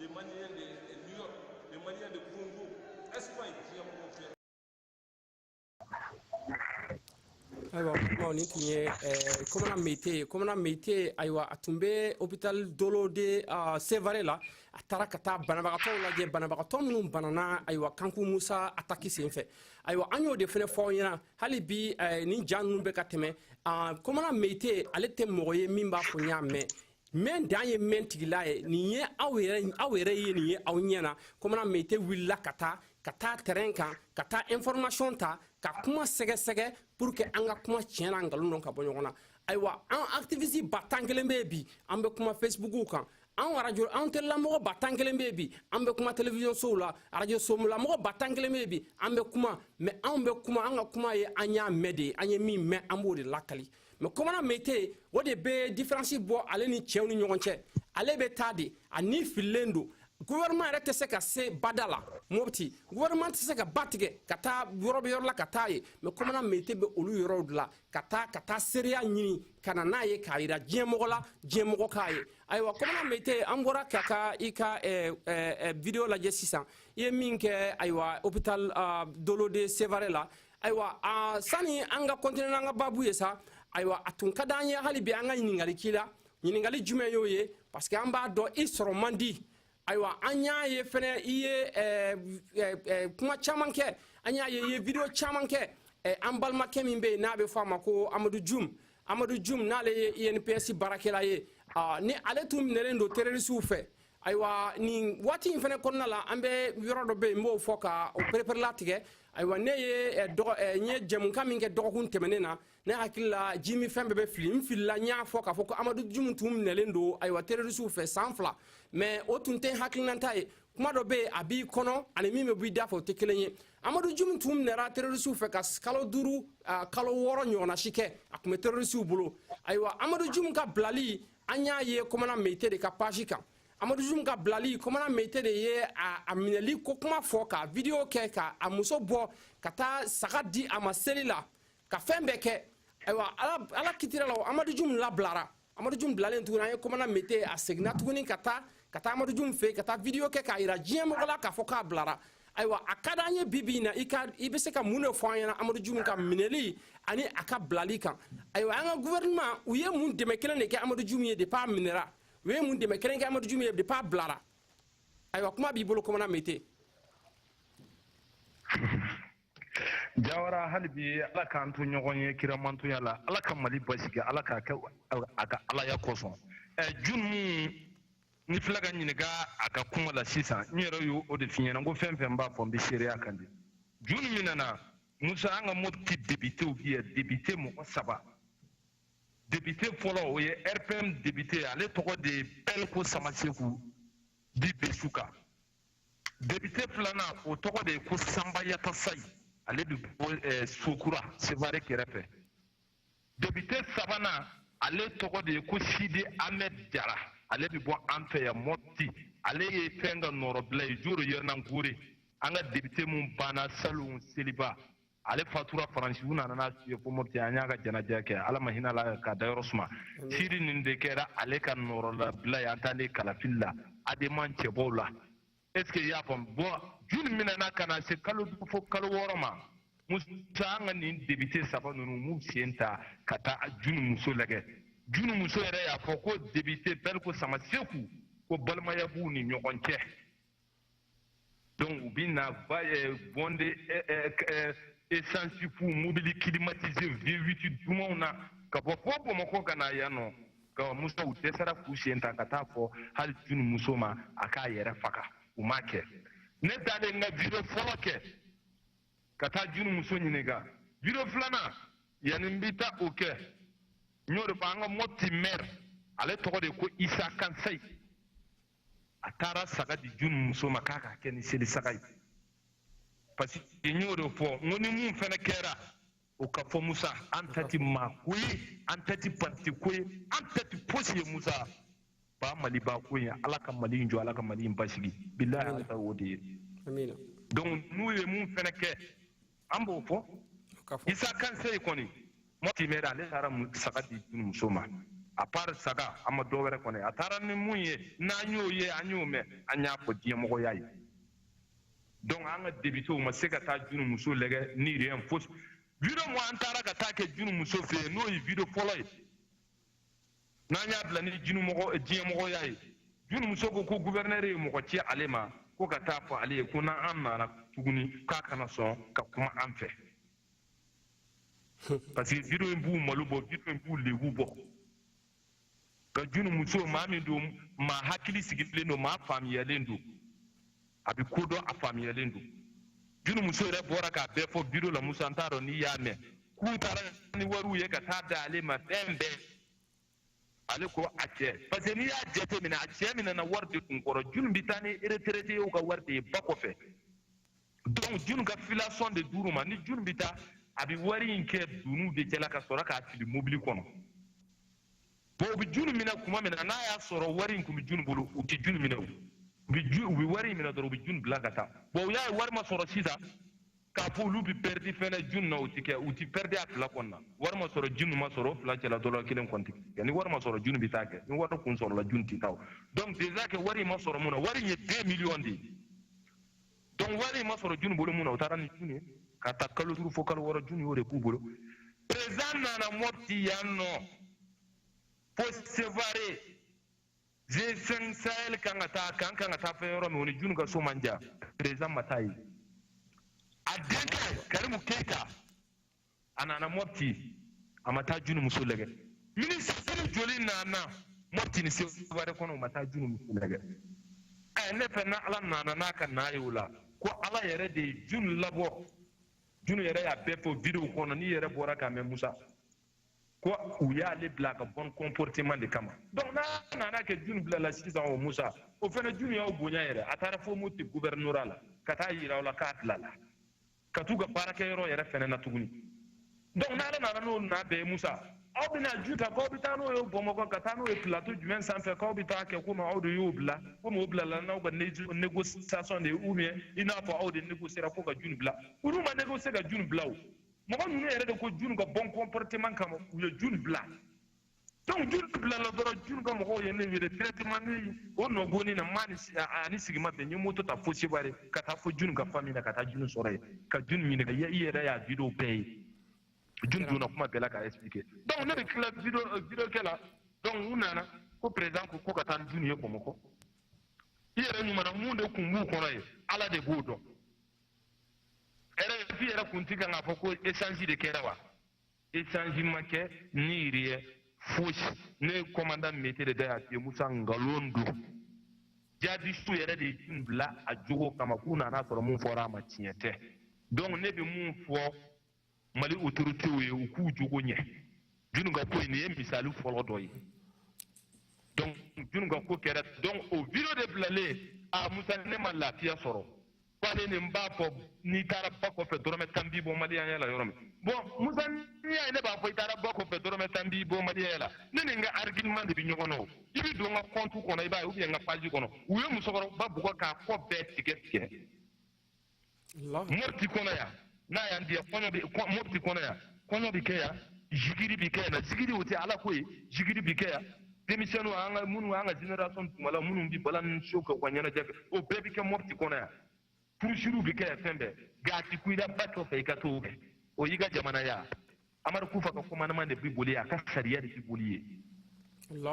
[SPEAKER 1] les Maliens de New York, les Maliens de Congo, Espagne, qui a beaucoup fait. ayiwa kumaw nin tun ye eh, komana meyite ye komana meyite ayiwa a tun bɛ hopital dolo de ah, sevare la a taara ka taa banabagatɔw lajɛ banabagatɔ minnu banana ayiwa kanku musa ataki senfɛ ayiwa an y'o de fana fɔ aw ɲɛna hali bi eh, nin ja ninnu bɛ ka tɛmɛ ah, komana meyite ale tɛ mɔgɔ ye min b'a fɔ n y'a mɛn mɛ dan ye mɛn tigila ye nin ye aw yɛrɛ aw yɛrɛ ye nin ye aw ɲɛna komana meyite wulila ka taa ka taa terrain kan ka taa information ta ka kuma sɛgɛsɛgɛ pour que an ka kuma tiɲɛ n'a nkalon dɔn ka bɔ ɲɔgɔn na ayiwa an activiste ba tan kelen bɛ bi an bɛ kuma facebooku kan an arajo an telelamɔgɔ ba tan kelen bɛ bi an bɛ kuma television sow la arajo sow la mɔgɔ ba tan kelen bɛ bi an bɛ kuma mɛ anw bɛ kuma an ka kuma ye an y'a mɛn de ye an ye min mɛn an b'o de lakali mɛ komana meyite o de bɛ diferansi bɔ ale ni cɛw ni ɲɔgɔn cɛ ale bɛ taa de a ni fililen don gouvernement yɛrɛ tɛ se ka se bada la mopti gouvernement tɛ se ka ba tigɛ ka taa yɔrɔ bɛɛ yɔrɔ la ka taa yen mɛ komana meyite bɛ olu yɔrɔw de la ka taa ka taa seereya ɲini ka na n'a ye k'a yira diɲɛmɔgɔ la diɲɛmɔgɔ k'a ye ayiwa komana meyite an bɔra ka ka i ka eh, eh, eh, video lajɛ sisan i ye min kɛ ayiwa hôpital uh, dolo de sevare la ayiwa a sani an ka continuer n'an ka babu ye sa ayiwa a tun ka d'an ye hali bi an ka ɲininkali k'i la ɲininkali jumɛn y'o ye parce que an b'a dɔn i sɔrɔ man di ayiwa an y'a ye fɛnɛ i ye eh, eh, eh, kuma caman kɛ an y'a ye i ye video caman kɛ an balimakɛ min bɛ yen n'a bɛ fɔ a ma ko amadu jum amadu jum n'ale ye inps baarakɛla ye ni ale tun minɛlen don terrorisiw fɛ ayiwa nin waati in fana kɔnɔna la an bɛ yɔrɔ dɔ bɛ yen n b'o fɔ ka o pereperelatigɛ ayiwa ne ye eh, dɔgɔ eh, n ye jɛmukan min kɛ dɔgɔkun tɛmɛnen na ne hakili la jiminfɛn bɛɛ bɛ fili n filila n y'a fɔ k'a fɔ ko amadu jumu tun minɛlen don ayiwa terorisiw fɛ san fila mɛ o tun tɛ hakilinanta ye kuma dɔ bɛ yen a b'i kɔnɔ ani min bɛ b'i da fɛ o tɛ kelen ye amadu jumu tun minɛra terorisiw fɛ ka kalo duuru kalo wɔɔrɔ ɲɔgɔnna si kɛ a tun bɛ terorisiw bolo ayiwa amadu jumu ka bilali an y'a ye komana meyite de ka page kan amadu jum ka bilali komana meyite de ye a minɛli ko kuma fɔ ka vidiyo kɛ ka a muso bɔ ka taa saga di a ma seli la ka fɛn bɛɛ kɛ ayiwa ala kitira la amadu jum labilara amadu jum bilalen tuguni an ye komana meyite a seginna tuguni ka taa ka taa amadu jum fɛ ka taa video kɛ k'a yira diɲɛ mɔgɔ la k'a fɔ k'a bilara ayiwa a ka d'an ye bi bi in na i ka i bɛ se ka mun de fɔ an ɲɛna amadu jum ka minɛli ani a ka bilali kan ayiwa an ka gouvernement u ye mun dɛmɛ kelen de kɛ amadu jum ye depuis a minɛra u ye mun dɛmɛ kelen kɛ amadu jum ye depuis a bilara ayiwa kuma b'i bolo kɔmana mete jawara hali bi ala k'an to ɲɔgɔn ye kiramantoya la ala ka mali basigi ala k'a kɛ a ka alaya kosɔn jun minɛni fila ka ɲininka a ka kuma la sisan n yɛrɛ y'o de f'i ɲɛna ko fɛn fɛn b'a fɔ n bɛ seereya kan de jun minɛna musa an ka mɔti depitew bi ye depite mɔgɔ saba depite fɔlɔ o ye rpm depite ale tɔgɔ de ye bɛlko samaseku bi besu kan depite filanan o tɔgɔ de ye ko sanba yatasayi ale bɛ bɔ eh, sokura sevare kɛrɛfɛ depite sabanan ale tɔgɔ de ye ko sidi ahmed jara ale bɛ bɔ an fɛ yan mɔti ale ye fɛn ka nɔrɔbila ye joro yaranangore an ka depite min banna salon seliba ale fatura faransi u nana n'a ye ko mɔti an y'a ka jɛnajɛ kɛ ala ma hinɛ a la k'a dayɔrɔ suma sidi nin de kɛra ale ka nɔrɔlabila ye an taalen kalafili la adema cɛbɔw la est ce que i y'a faamu bon junu minɛna ka na se kalo duuru fo kalo wɔɔrɔ ma musa an ka nin depite saba ninnu m'u sen ta ka taa junu muso lajɛ junu muso yɛrɛ y'a fɔ ko depite bɛlko samaseku ko balimaya b'u ni ɲɔgɔn cɛ donc u bɛ na ba eh, bon de eh, eh, essence fu mobili climatisé V8 dumanw na ka bɔ fo Bamakɔ ka na yan nka Musa u dɛsɛra k'u sen ta ka taa fɔ hali junu muso ma a k'a yɛrɛ faga u m'a kɛ ne taalen n ka video fɔlɔ kɛ ka taa junu muso ɲininka video filanan yanni n bɛ taa o kɛ n y'o de fɔ an ka mɔti mɛri ale tɔgɔ de ko isa kansayi a taara saga di jun muso ma k'a ka kɛ ni seli saga ye parce que n y'o de fɔ n ko ni mun fɛnɛ kɛra o ka fɔ musa an ta ti maa ko ye an ta ti parti ko ye an ta ti fosi ye musa ba mali ba ko ye ala ka mali in jɔ ala ka mali in basigi bilahi ala ta o de ye donc n'u ye mun fɛnɛ kɛ an b'o fɔ isa kansayi kɔni mɔti mɛri ale taara saga di junu muso ma a part saga a ma dɔwɛrɛ kɔni a taara ni mun ye n'an y'o ye an y'o mɛn an y'a fɔ diɲɛmɔgɔw ye donc an ka depitew ma se ka taa junu muso lajɛ ni rien fosi video mun an taara ka taa kɛ junu muso fɛ yen n'o ye video fɔlɔ ye n'an y'a bila ni jinumɔgɔ diɲɛmɔgɔya ye junu muso ko ko guvɛrinɛri ye mɔgɔ ci ale ma ko ka taa fɔ ale ye ko n'an nana tuguni k'a kana sɔn ka kuma an fɛ parce que video in b'u malo bɔ video in b'u lebu bɔ ka junu muso maa min don maa hakili sigilen don maa faamuyalen don a bɛ ko dɔn a faamuyalen don junu muso yɛrɛ bɔra k'a bɛɛ fɔ video la musa n t'a dɔn n'i y'a mɛn k'u taara ni wariw ye ka taa da ale ma fɛn bɛɛ ale ko a cɛ parce que n'i y'a jate minɛ a cɛ minɛna wari de kun kɔrɔ junu bɛ taa ni retraitéw ka wari de ye ba kɔfɛ donc junu ka filasɔn de d'u ma ni junu bɛ taa a bɛ wari in kɛ doni de cɛla ka sɔrɔ k'a fili mobili kɔnɔ bon u bɛ junu minɛ kuma min na n'a y'a sɔrɔ wari in tun bɛ junu bolo u tɛ junu minɛ o u bɛ ju u bɛ wari in minɛ dɔrɔn u bɛ junu bila ka taa bon u y'a ye wari ma sɔrɔ sisan k'a fɔ olu bɛ pɛridi fɛnɛ junu na u tɛ kɛ u tɛ pɛridi a fila kɔni na wari ma sɔrɔ junu ma sɔrɔ o fila cɛla dɔ la kelen kɔni tɛ kɛ ni wari ma sɔrɔ junu bɛ taa kɛ ni wari kun sɔrɔla junu tɛ taa o donc déjà kɛ wari in ma sɔrɔ mun na wari in ye deux millions de ye donc wari in ma sɔrɔ junu bolo mun na u taara ni junu ye ka taa kalo duuru fo kalo wɔɔrɔ junu y'o de k'u bolo président nana mɔti yan nɔ fo sevare g5 sahel kan ka taa kan kan ka taa fɛn yɔrɔ min o ni junu ka so man jan président ma taa yen a denkɛ karimu keyita a nana mɔpti a ma taa junu muso lajɛ minisiri joli nana mɔpti ni seware kɔnɔ u ma taa junu muso lajɛ ɛ ne fɛ na ala nana n'a ka naa ye o la ko ala yɛrɛ de ye junu labɔ junu yɛrɛ y'a bɛɛ fɔ videow kɔnɔ n'i yɛrɛ bɔra k'a mɛn musa ko u y'ale bila ka bon comportement de kama donc n'a nana kɛ junu bilala sisan o musa o fana junu y'aw bonya yɛrɛ a taara fo mɔti gouvernorat la ka taa yira aw la k'a bilala ka t'u ka baarakɛyɔrɔ yɛrɛ fɛnɛ na tuguni donc n'ala nana n'o na bɛɛ musa aw bɛna ju ta k'aw bɛ taa n'o ye bamakɔ ka taa n'o ye plateau jumɛn sanfɛ k'aw bɛ taa kɛ komi aw de y'o bila komi o bilala n'aw ka négociation de ye ou bien i n'a fɔ aw de négociera ko ka junu bila olu ma négocier ka junu bila o mɔgɔ ninnu yɛrɛ de ko junu ka bon comportement kama u ye junu bila donc junu bilala dɔrɔn junu ka mɔgɔw ye ne wele directement ne o nɔ bonni na maa ani sigi ma bɛn n ye moto ta fo seware ka taa fo junu ka famille la ka taa junu sɔrɔ yen ka junu ɲininka i yɛrɛ y'a video bɛɛ ye junu donna kuma bɛɛ la k'a expliquer donc ne bɛ tila video euh, video kɛ la donc u nana ko président ko ko ka taa ni junu ye bamakɔ i yɛrɛ ɲumana mun de kun b'u kɔnɔ ye ala de b'o dɔn rfi yɛrɛ kun ti kan k'a fɔ ko échange de kɛra wa échange ma kɛ ni yiri ye fosi ne ye kɔmandan mete de da y'a f'i ye musa nkalon don jadisiw yɛrɛ de ye junu bila a jogo kama k'u nana sɔrɔ mun fɔra a ma tiɲɛ tɛ donc ne bɛ mun fɔ mali autorités ye u k'u jogo ɲɛ junu ka ko in nin ye misali fɔlɔ dɔ ye donc junu ka ko kɛra donc o video de bilalen a musa ne ma lafiya sɔrɔ voilà ne b'a fɔ n'i taara ba kɔfɛ dɔrɔmɛ tan b'i bɔ maliyanya la yɔrɔ min bɔn musa n'i y'a ye ne b'a fɔ i taara ba kɔfɛ dɔrɔmɛ tan b'i bɔ maliyanya la ne ni n ka argument de bɛ ɲɔgɔn na o i bɛ don n ka compte kɔnɔ i b'a ye ou bien n ka page kɔnɔ u ye musokɔrɔba bugɔ k'a kɔ bɛɛ tigɛ tigɛ mɔti kɔnɔ yan n'a y'an diya mɔbiti kɔnɔ yan kɔɲɔ bɛ kɛ yan zikiri bɛ kɛ yan na zikiri o tɛ ala ko ye zikiri bɛ kɛ yan denmisɛnninw an ka minnu an ka generation tuma la minnu bɛ balani so kɛ u ka ɲɛnajɛ kɛ o bɛɛ bɛ kɛ mɔbiti kɔnɔ yan furusiriw bɛ kɛ yan fɛn bɛɛ nka a tɛ kun i la ba kɔfɛ i ka t'o kɛ o y'i ka jamana ye amadu kufa ka commandement de bi boli a ka sariya de bi boli ye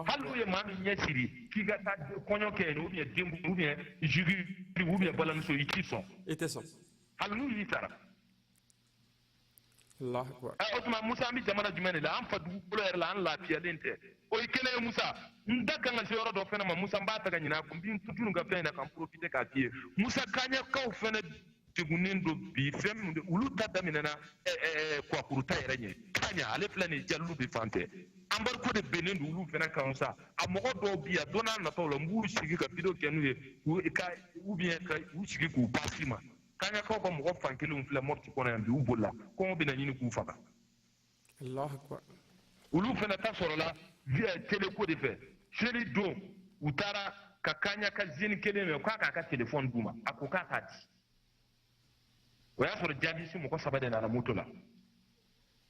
[SPEAKER 1] hali n'u ye maa min ɲɛ siri k'i ka taa kɔɲɔ kɛ yen ou bien den ou bien zikiri ou bien balani so i t'i sɔn i tɛ sɔn hali n'u y'i sara o tuma musa an bɛ jamana jumɛn de la an fa dugukolo yɛrɛ la an lafiyalen tɛ o ye kelen ye musa n da ka kan ka se yɔrɔ dɔ fana ma musa n b'a ta ka ɲinɛ a kɔ n bɛ n to junu ka fɛn in na ka n profite k'a f'i ye musa kaɲakaw fana degunnen don bi fɛn min don olu ta daminɛna kwakuru ta yɛrɛ ɲɛ kaɲa ale filɛ nin jalube fan fɛ embargo de binnen don olu fana kan sa a mɔgɔ dɔw bi yan don nataw la n b'u sigi ka video kɛ n'u ye ka ou bien ka u sigi k'u pase i ma kaɲakaw ka mɔgɔ fan kelenw filɛ mɔti kɔnɔ yan bi u bolila kɔngɔ bɛna ɲini k'u faga olu fana ta sɔrɔla tele ko de fɛ seli don u taara ka kaɲaka zeni kelen minɛ ko a k'a ka telefɔni d'u ma a ko k'a t'a di o y'a sɔrɔ jadisi mɔgɔ saba de nana moto la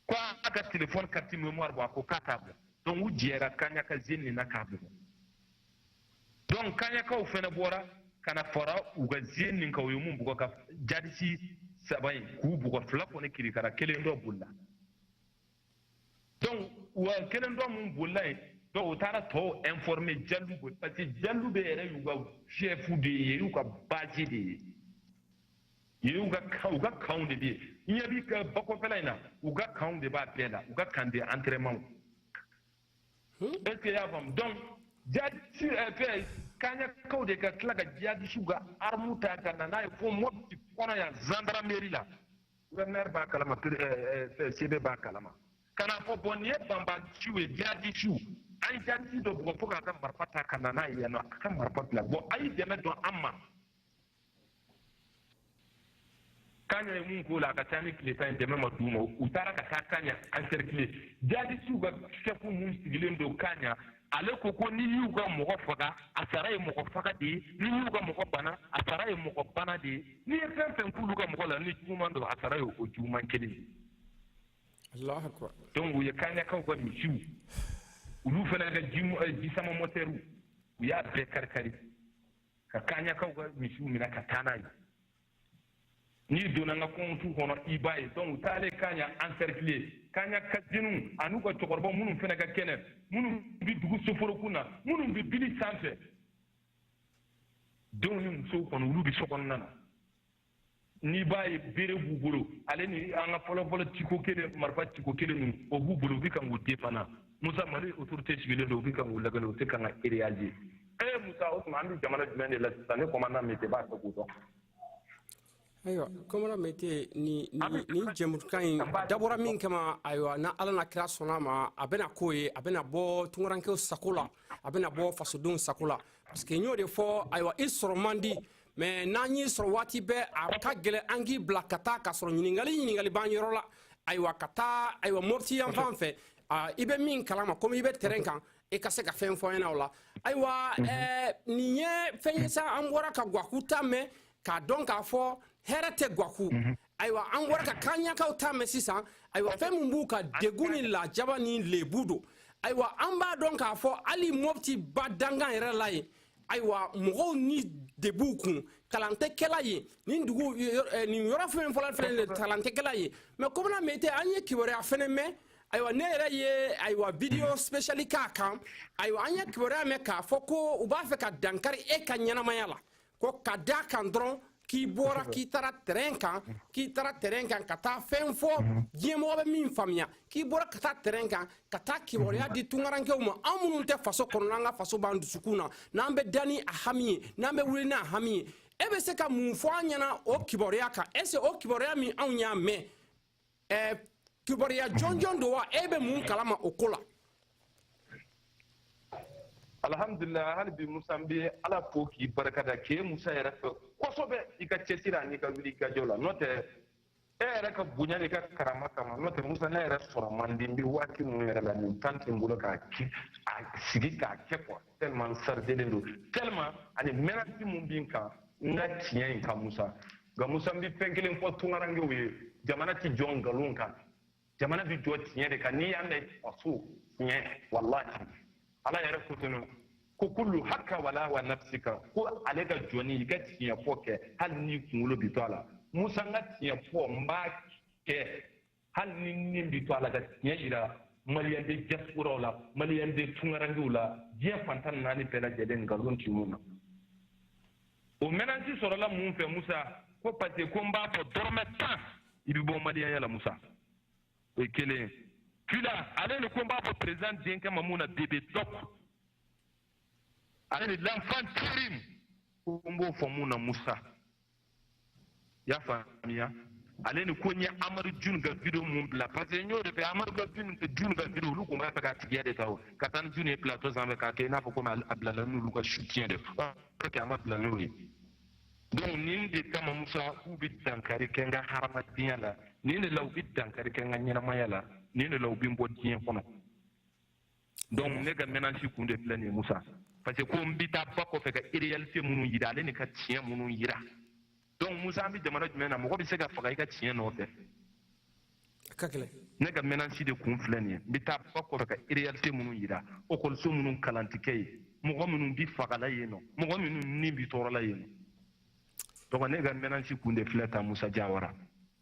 [SPEAKER 1] ko a ka telefɔni kariti memoire bɔ a ko k'a t'a bɔ donc u jɛra kaɲaka zeni nin na k'a bugɔ donc kaɲakaw fana bɔra ka na fara u ka zeni nin kan u ye mun bugɔ ka jadisi saba in k'u bugɔ fila kɔni kirikara kelen dɔ bolila donc u ka kelen dɔ mun bolila yen donc u taara tɔw informe jalube parce que jalube yɛrɛ y'u ka chɛfu de ye y'u ka bazi de ye yen u ka kan u ka kanw de bɛ yen ɲɛ b'i ka bakɔfɛla in na u ka kanw de b'a bɛɛ la u ka camp d'entraînement Est-ce qu'i y'a faamu donc jadisi eh, fɛ kaɲakaw de ka tila ka jadisiw ka armu ta ka na n'a ye fo mɔti kɔnɔ yan zandarameri la gouverneur b'a kalama eh, eh, sebe b'a kalama ka n'a fɔ bɔn nin ye banbaaciw ye jadisiw an ye jadisi dɔ bugɔ fo k'a ka marifa ta ka na n'a ye yan nɔ a ka marifa bila bɔn a ye dɛmɛ don an ma kaɲa ye mun k'o la a ka ca ni tile tan ye dɛmɛ ma d'u ma u taara ka taa kaɲa encercler jadisiw ka sɛfu mun sigilen don kaɲa ale ko ko n'i y'u ka mɔgɔ faga a sara ye mɔgɔ faga de ye n'i y'u ka mɔgɔ bana a sara ye mɔgɔ bana de ye n'i ye fɛn fɛn k'olu ka mɔgɔ la ni juguman don a sara ye o juguman kelen ye donc u ye kaɲakaw ka misiw olu fana ka jisama mɔtɛriw u y'a bɛɛ kari kari ka kaɲakaw ka misiw minɛ ka taa n'a ye n'i donna n ka kɔntu kɔnɔ i b'a ye donc u taalen kaɲa encercler kaɲa ka zɛniw an'u ka cɛkɔrɔba minnu fɛnɛ ka kɛnɛ minnu bi dugu soforokun na minnu bi bili sanfɛ denw ni musow kɔni olu bi sokɔnɔna na n'i b'a ye bere b'u bolo ale ni an ka fɔlɔfɔlɔ tiko kelen marifa tiko kelen ninnu o b'u bolo u bɛ kan k'u défendre musa mali autorité sigilen don u bɛ kan k'u lagale u tɛ kan ka réagir ee musa o tuma an bɛ jamana jumɛn de la sisan ne kɔmanda mete b'a fɛ k'o dɔn ayiwa kɔmanda mete ni ni jɛmukan in dabɔra min kama ayiwa ni ala n'a kira sɔnn'a ma a bɛna k'o ye a bɛna bɔ tungarankew sago la a bɛna bɔ fasodenw sago la parce que n y'o de fɔ ayiwa i sɔrɔ man di mɛ n'an y'i sɔrɔ waati bɛɛ a ka gɛlɛn an k'i bila ka taa k'a sɔrɔ ɲininkali ɲininkali b'an yɔrɔ la ayiwa ka taa ayiwa mɔpti yan fan fɛ i bɛ min kalama komi i bɛ tɛrɛn kan i ka se ka fɛn fɔ an ɲɛna o la ayiwa nin ye fɛn ye sa an bɔra ka gwaku ta mɛn k'a dɔn k'a fɔ hɛrɛ tɛ gwaku ayiwa an bɔra ka kaɲakaw ta mɛn sisan ayiwa fɛn min b'u ka degun ni lajaba ni lebu don ayiwa an b'a dɔn k'a fɔ hali mɔpti badankan yɛrɛ la yen ayiwa mɔgɔw ni de b'u kun kalan tɛ kɛ la yen nin dugu eh, nin yɔrɔ fɛn fɔlɔ fɛnɛ de kalan tɛ kɛ la yen mɛ kɔmanda mete an ye kibaruya fɛnɛ mɛn ayiwa ne yɛrɛ ye ayiwa vidéo spéciale k'a kan ayiwa an ye kibaruya mɛn k'a fɔ ko u b'a fɛ ka dankari e ka ɲɛnamaya la ko ka da kan dɔrɔn k'i bɔra k'i taara terrain kan k'i taara terrain kan ka taa fɛn fɔ diɲɛmɔgɔ bɛ min faamuya k'i bɔra ka taa terrain kan ka taa kibaruya di tungarankew ma an minnu tɛ faso kɔnɔ an ka faso b'an dusukun na n'an bɛ da ni a hami ye n'an bɛ wuli n'a hami ye e bɛ se ka mun fɔ an ɲɛna o kibaruya kan est ce que o kibaruya min anw y'a mɛn ɛɛ kibaruya jɔnjɔn don wa e bɛ mun kalama o ko la. alhamdulilah hali bi musa n bɛ ala fo k'i barika da k'e musa yɛrɛ fo kosɛbɛ i ka cɛsiri an'i ka wulikajɔ la n'o tɛ e yɛrɛ ka bonya n'i ka karama kama n'o tɛ musa ne yɛrɛ sɔrɔ man di n bɛ waati minnu yɛrɛ la nin temps tɛ n bolo k'a kɛ a sigi k'a kɛ quoi tellement n sarijelen don tellement ani mɛnasi min bɛ n kan n ka tiɲɛ in kan musa nka musa n bɛ fɛn kelen fɔ tunkarankew ye jamana tɛ jɔ nkalon kan jamana bɛ jɔ tiɲɛ de kan n'i y'a mɛn faso tiɲɛ walahi ala yɛrɛ ko ten ko kulu haka wala wa nafsika ko ale ka jɔni i ka tiɲɛ fɔ kɛ hali n'i kunkolo bi to a la musa n ka tiɲɛ fɔ n b'a kɛ hali ni ni bɛ to a la ka tiɲɛ jira maliyɛn de diaspora la maliyɛn de tunkarankew la diɲɛ fan tan ni naani bɛɛ lajɛlen nkalon tɛ min na o menace sɔrɔla mun fɛ musa ko parce que ko n b'a fɔ dɔrɔmɛ tan i bɛ bɔ maliyɛnya la musa o ye kelen ye fila ale ni ko n b'a fɔ président denkɛ ma mun na bébé doc ale ni l'enfant terrible ko n b'o fɔ mun na musa i y'a faamuya ale ni ko n ye amadu jun ka video min bila parce que n y'o de fɛ amadu ka jun ka video olu tun b'a fɛ ka tigiya de ta o ka taa ni jun ye plateau sanfɛ k'a kɛ i n'a fɔ komi a bilala n'olu ka soutien de parce que a ma bila n'o ye donc nin de kama musa k'u bɛ dankari kɛ n ka hadamadenya la nin de la u bɛ dankari kɛ n ka ɲɛnamaya la nin de la u bɛ n bɔ diɲɛ kɔnɔ donc ne ka menace kun de filɛ nin ye musa parce que ko n bɛ taa ba kɔfɛ ka réalité minnu yira ale ni ka tiɲɛ minnu yira donc musa an bɛ jamana jumɛn na mɔgɔ bɛ se ka faga i ka tiɲɛ nɔfɛ ka gɛlɛn ne ka menace de kun filɛ nin ye n bɛ taa ba kɔfɛ ka réalité minnu yira lakɔliso minnu kalan tɛ kɛ yen mɔgɔ minnu bi fagala yen nɔ mɔgɔ minnu ni bi tɔɔrɔla yen nɔ donc ne ka menace kun de filɛ tan musa jawara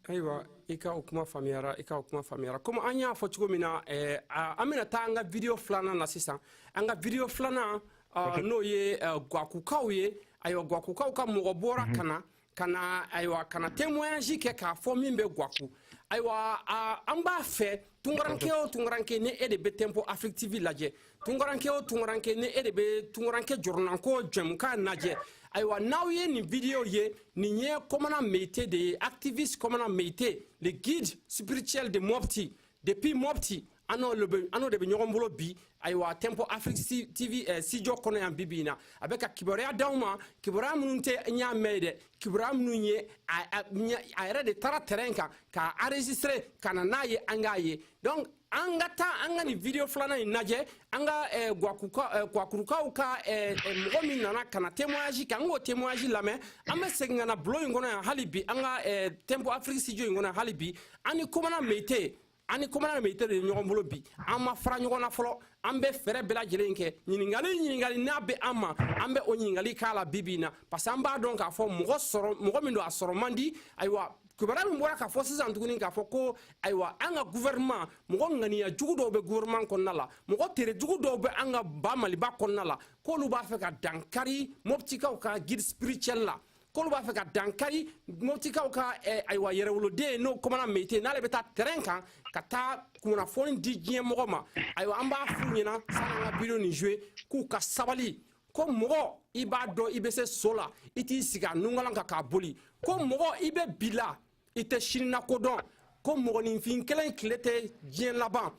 [SPEAKER 1] ayiwa i ka o kuma faamuyara i ka o kuma faamuyara komi an y'a fɔ cogo min na eh, an bɛna taa an ka video filanan na sisan an ka video filanan uh, n'o ye uh, gwakukaw ye ayiwa gwakukaw ka mɔgɔ bɔra mm -hmm. ka na ka na ayiwa ka na témoignage kɛ k'a fɔ min bɛ gwaku ayiwa uh, an b'a fɛ tunkaranke o tunkaranke ni e de bɛ tempo afrique tv lajɛ tunkaranke o tunkaranke ni e de bɛ tunkaranke jɔrɔnanko jɛmukan lajɛ ayiwa n'aw ye nin video ye nin ye kɔmana meyite de ye activiste kɔmana meyite le guide spirituel de mopti depuis mopti an n'o de bɛ ɲɔgɔn bolo bi ayiwa tempo afrique tv eh, studio kɔnɔ yan bi bi in na a bɛ ka kibaruya d'aw ma kibaruya minnu tɛ n y'a mɛn ye dɛ kibaruya minnu ye a yɛrɛ de taara terrain kan k'a enregistré ka na n'a ye an k'a ye donc an ka taa an ka nin video filanan in lajɛ an ka eh, gwakurukaw eh, ka eh, mɔgɔ min nana ka na témoignage kɛ an k'o témoignage lamɛn an bɛ segin ka na bulon in kɔnɔ yan hali bi an ka tempo afrique studio in kɔnɔ hali bi an ni komana meyite an ni komana meyite de ye ɲɔgɔn bolo bi an ma fara ɲɔgɔn na fɔlɔ an bɛ fɛɛrɛ bɛɛ lajɛlen kɛ ɲininkali ɲininkali n'a bɛ an ma an bɛ o ɲininkali k'a la bi bi in na parce que an b'a dɔn k'a fɔ mɔgɔ sɔrɔ mɔgɔ min don a sɔrɔ man di ayiwa kibaruya min bɔra k'a fɔ sisan tuguni k'a fɔ ko ayiwa an ka gouvernement mɔgɔ ŋaniya jugu dɔw bɛ gouvernement kɔnɔna la mɔgɔ tere jugu dɔw bɛ an ka ba maliba kɔnɔna la k'olu b'a fɛ ka dankari mɔptikaw ka guide spirituel la k'olu b'a fɛ ka dankari mɔptikaw ka eh, ayiwa yɛrɛwoloden n'o kɔmana meyite n'ale bɛ taa terrain kan ka taa kunnafoni di diɲɛ mɔgɔ ma ayiwa an b'a f'u ɲɛna san'an ka video nin joue k'u ka sabali ko mɔgɔ i b'a dɔn i bɛ se so la i t'i sigi a nungalan kan k'a boli ko mɔgɔ i bɛ bi la i tɛ sini nako dɔn ko mɔgɔninfin kelen tile tɛ diɲɛ laban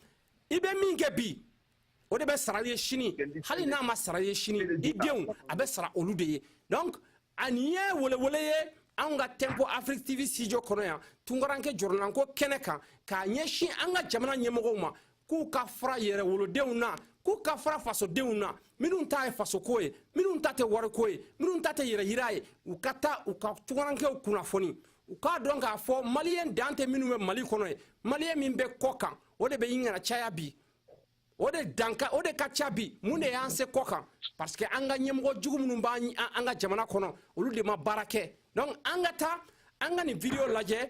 [SPEAKER 1] i bɛ min kɛ bi o de bɛ sara i ye sini hali n'a ma sara i ye sini i denw a bɛ sara olu de ye donc nin ye welewele ye anw ka tempo afrique tv studio kɔnɔ yan tunkaranke jɔrɔnanko kɛnɛ kan k'a ɲɛsin an ka jamana ɲɛmɔgɔw ma k'u ka fara yɛrɛwolodenw na k'u ka fara fasodenw na minnu ta ye fasoko ye minnu ta tɛ wariko ye minnu ta tɛ yɛrɛyira ye u ka taa u ka tunkarankew kunnafoni u k'a dɔn k'a fɔ maliyɛn dan tɛ minnu bɛ mali kɔnɔ ye maliyɛn min bɛ kɔ kan o de bɛ ɲini ka caya bi o de danka o de ka ca bi mun de y'an se kɔ kan parce que an ka ɲɛmɔgɔ jugu minnu b'an ka jamana kɔnɔ olu de ma baara kɛ donc an ka taa an ka nin video lajɛ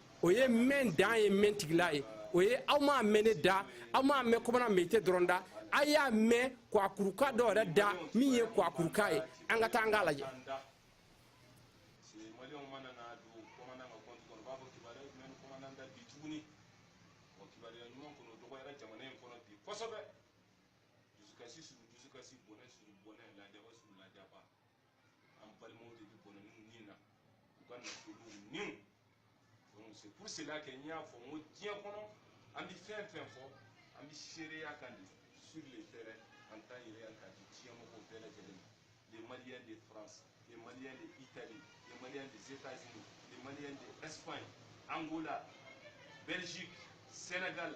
[SPEAKER 1] o ye mɛn dan ye mɛntigila ye o ye aw m'a mɛn ne da aw m'a mɛn kɔmana meyite dɔrɔn da a y'a mɛn kwakuruka dɔ yɛrɛ da min ye kwakuruka ye an ka taa an k'a lajɛ kɔsɛbɛ dusukasi sur dusukasi bɔnɛ sur bɔnɛ lajaba sur lajaba an balimaw de bɛ bɔnɛ n'u ni na u ka nafolow niw donc c'est pour cela que n y'a fɔ n ko diɲɛ kɔnɔ an bɛ fɛn fɛn fɔ an bɛ seereya kan di sur le terrain en temps réel k'a di diɲɛ mɔgɔw bɛɛ lajɛlen ma les maliens de france les maliens de italie les maliens des états unis les maliens de espagne angola belgique sénégal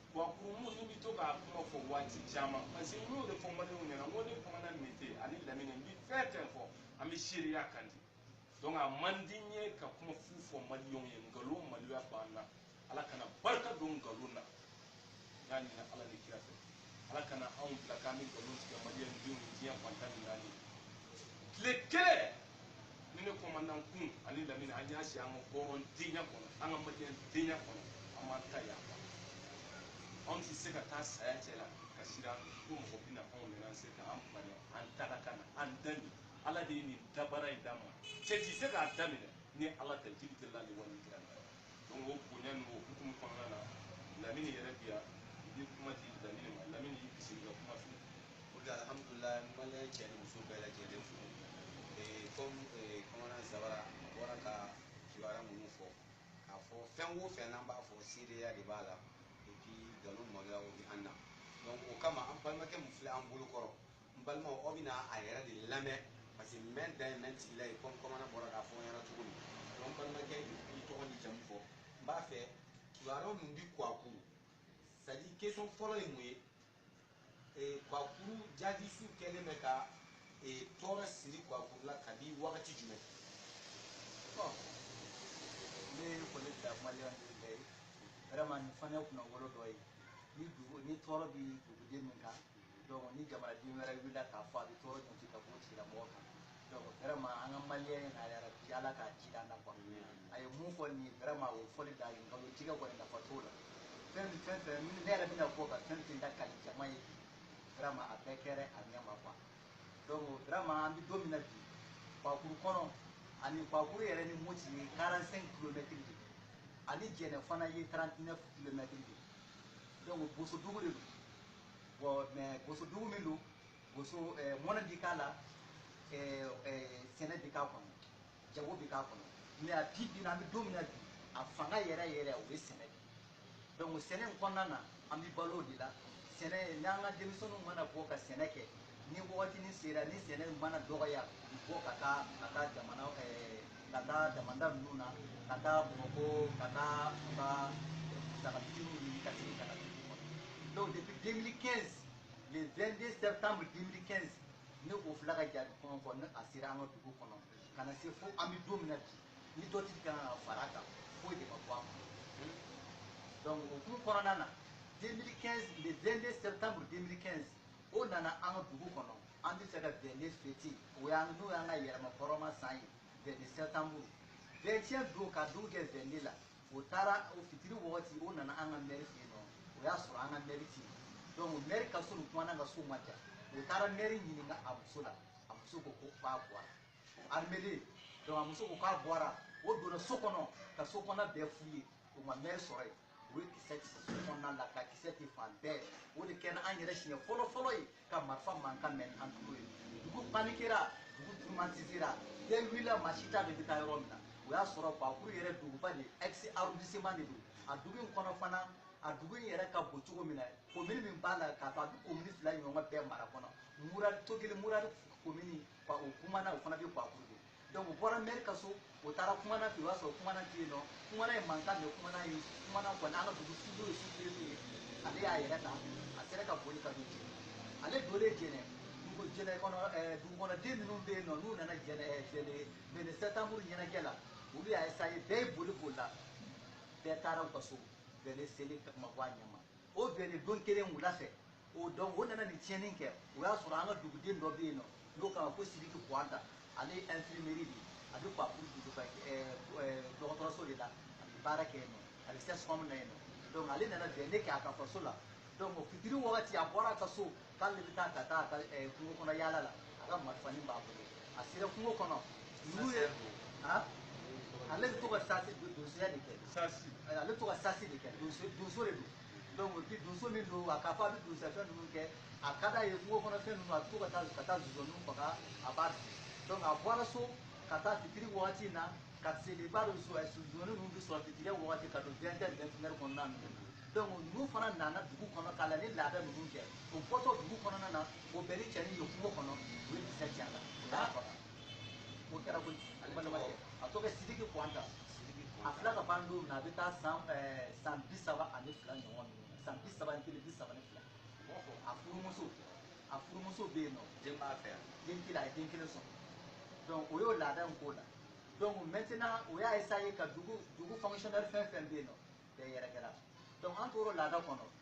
[SPEAKER 1] wa kurumu n'u bɛ to k'a kuma fɔ waati caman parce que n y'o de fɔ maliɲɛnw ɲɛna n ko ne kɔmana meyite ani lamini n bɛ fɛn fɛn fɔ an bɛ seereya kan di donc a man di n ye ka kuma fu fɔ maliɲɛnw ye nkalon maloya b'an na ala kana barika don nkalon na n y'a ɲini ala ni kira fɛ ala kana anw bila k'an bɛ nkalon tigɛ maliɲɛndenw ye diɲɛ fan tan ni naani tile kelen ni ne kɔmandan kun ani lamini an y'a si an ka hɔrɔndenya kɔnɔ an ka maliyɛn denya kɔnɔ an b'an ta yan anw tɛ se ka taa saya cɛ la ka siran ko mɔgɔ bɛna anw nana se ka an bali an ta ka kan an da nin ala de ye nin da baara in d'an ma cɛ tɛ se k'an da minɛ ni ala tɛ jil jalali wal ikram donc o bonya n'o hukumu kɔnɔna na lamini yɛrɛ bi yan i bɛ kuma di lamini ma lamini y'i bisimila ka kuma fɛ o de alihamudulilayi maliyɛn cɛ ni muso bɛɛ lajɛlen fo kɔmi kɔmana zabara a bɔra ka kibaruya minnu fɔ k'a fɔ fɛn o fɛn n'an b'a fɔ seereya de b'a la et puis nkalon maloya o bɛ an na donc o kama an balimakɛ min filɛ an bolo kɔrɔ n balimaw aw bɛna a yɛrɛ de lamɛn parce que mɛn dan ye mɛn tigila ye kɔmi kɔmana bɔra k'a fɔ n ɲɛna cogo min donc balimakɛ i tɔgɔ ni jamu fɔ n b'a fɛ kibaruya min bi kwakuru c'est à dire question fɔlɔ ye mun ye ee kwakuru jadisiw kɛlen bɛ ka ee tɔɔrɔ siri kwakuru la kabi wagati jumɛn bon ne ye foli bila maliyɛn de bɛɛ ye vraiment nin fana ye kunnawolo dɔ ye ni dugu ni tɔɔrɔ bi duguden min kan donc ni jamanaden wɛrɛ wulila k'a fɔ a bɛ tɔɔrɔ jɔɔsi ka bɔ tigilamɔgɔ kan donc vraiment an ka maliyɛn in na yɛrɛ bi ala k'a ji d'an na quoi a ye min fɔ nin ye vraiment o fɔli dan ye nkalon tigɛ kɔni nafa t'o la fɛn min fɛn fɛn ne yɛrɛ bɛna fɔ ka fɛn fɛn da kali jama ye bi vraiment a bɛɛ kɛra a ɲɛ ma quoi donc vraiment an bɛ don min na bi kwakuru kɔnɔ ani kwakuru yɛrɛ ni moti ye 45 kilomɛtiri de ye ani jɛnɛ fana ye 39 kilomɛtiri de ye donc bosodugu de don bon mais boso dugu min don boso eh, mɔnni bi k'a la eh, eh, sɛnɛ bi k'a kɔnɔ jago bi k'a kɔnɔ mais a bi bi na an bɛ don min na bi a fanga yɛrɛ yɛrɛ o ye sɛnɛ de donc sɛnɛ in kɔnɔna na an bɛ balo o de la sɛnɛ n'an ka denmisɛnninw mana bɔ ka sɛnɛ kɛ ni wagati nin sera ni sɛnɛ mana dɔgɔya u bɔ ka taa ka taa jamana ka taa damanda ninnu na ka taa bamakɔ ka taa u ka musaka fitininw ɲini ka segin ka na dugu kɔnɔ donc depuis 2015 le 22 septembre 2015 ne o fila ka jihadi ko in kɔni a sera an ka dugu kɔnɔ ka na se fo an bɛ don min na bi ni dɔ tɛ ka fara kan foyi de ma bɔ a kɔnɔ donc o kun kɔnɔna na 2015 le 22 septembre 2015 o nana an ka dugu kɔnɔ an bɛ fɛ ka 22 fɛti o y'an n'o y'an ka yɛrɛmahɔrɔnya san ye 22 sɛtanburu 21 don ka dugu jɛ 22 la o taara o fitiri wagati o nana an ka mɛri fɛ yen nɔ o y'a sɔrɔ an ka mɛri tɛ yen donc mɛri ka so ni kumandan ka so man jan o taara mɛri ɲininka a muso la a muso ko ko k'a bɔra armede donc a muso ko k'a bɔra o donna so kɔnɔ ka so kɔnɔ bɛɛ fuye o ma mɛri sɔrɔ yen u ye kisɛ ci so kɔnɔna la ka kisɛ ci fan bɛɛ o de kɛra an yɛrɛ siɲɛ fɔlɔ fɔlɔ ye ka marifa mankan mɛn an tulo ye dugu panikera dugu traumatisera den wulila maa si t'a dɔn i bɛ taa yɔrɔ min na o y'a sɔrɔ kwakuru yɛrɛ duguba de ex arrondissement de don a dugu in kɔnɔ fana a dugu in yɛrɛ ka bon cogo min na komini min b'a la k'a to a bɛ komini fila ɲɔgɔn bɛɛ mara kɔnɔ murari togili murari komini o kumandan o fana bɛ kwakuru de donc u bɔra mɛri ka so o taara kumandan fɛ o y'a sɔrɔ kumandan tɛ yen nɔ kumandan ye mankan de kumandan ye kumandan kɔni an ka dugu sudo ye sous-préfet min ye ale y'a yɛrɛ ta a sera ka boli ka don jɛnɛ ale donnen jɛnɛ dugu jɛnɛ kɔnɔ ɛɛ dugukɔnɔden minnu bɛ yen nɔ n'u nana jɛnɛ jɛnɛ vingt-deux sɛtanburu ɲɛnajɛ la olu y'a esaye bɛɛ ye boli bolila bɛɛ taara u ka so vingt-deux seli ma bɔ a ɲɛ ma o vingt-deux don kelen wula fɛ o don o nana nin tiɲɛni kɛ o y'a sɔrɔ an ka duguden dɔ bɛ yen nɔ n'o k'a ma ko sidiki kuwanta ale ye infirmieri de ye a bɛ mopti duguba dɔgɔtɔrɔso de la a bɛ baara kɛ yen nɔ a bɛ sɛsikɔmu na yen nɔ donc ale nana vingt-deux kɛ a ka faso la donc fitiri wagati a bɔra a ka so k'ale bɛ taa ka taa a ka kungo kɔnɔ yaala la a ka marifani b'a bolo a sera kungo kɔnɔ ninnu ye ale bɛ to ka sasi donsoya de kɛ ale bɛ to ka sasi de kɛ donso de don dɔnku ti donso min don a k'a fɔ a bɛ donsafɛn ninnu kɛ a ka d'a ye kungo kɔnɔfɛn ninnu a bɛ to ka taa ka taa zozaniw faga a b'a dun dɔnku a bɔra so ka taa fitiri wagati in na parce que i b'a dɔn zozani ninnu bɛ sɔrɔ fitiri wagati ka don vɛntɛri vɛntinɛri kɔnɔna ninnu na donc n'u fana nana dugu kɔnɔ ka na nin laada ninnu kɛ o bɔtɔ dugu kɔnɔna na o bɛnna ni cɛnin ye kungo kɔnɔ u ye kisɛ ci a la o y'a faga o kɛra koyi a tɔgɔ sidiki kuwanta a filɛ ka ban don min na a bɛ taa san san bi saba ani fila ɲɔgɔn ninnu san bi saba ni kelen bi saba ni fila a furumuso a furumuso bɛ yen nɔ den b'a fɛ yan den kelen a ye den kelen sɔrɔ donc o y'o laada in k'o la donc maintenant o y'a essayer ka dugu dugu fonctionnaire fɛn fɛn bɛ yen nɔ bɛɛ yɛrɛkɛra donc an tor'o laada kɔnɔ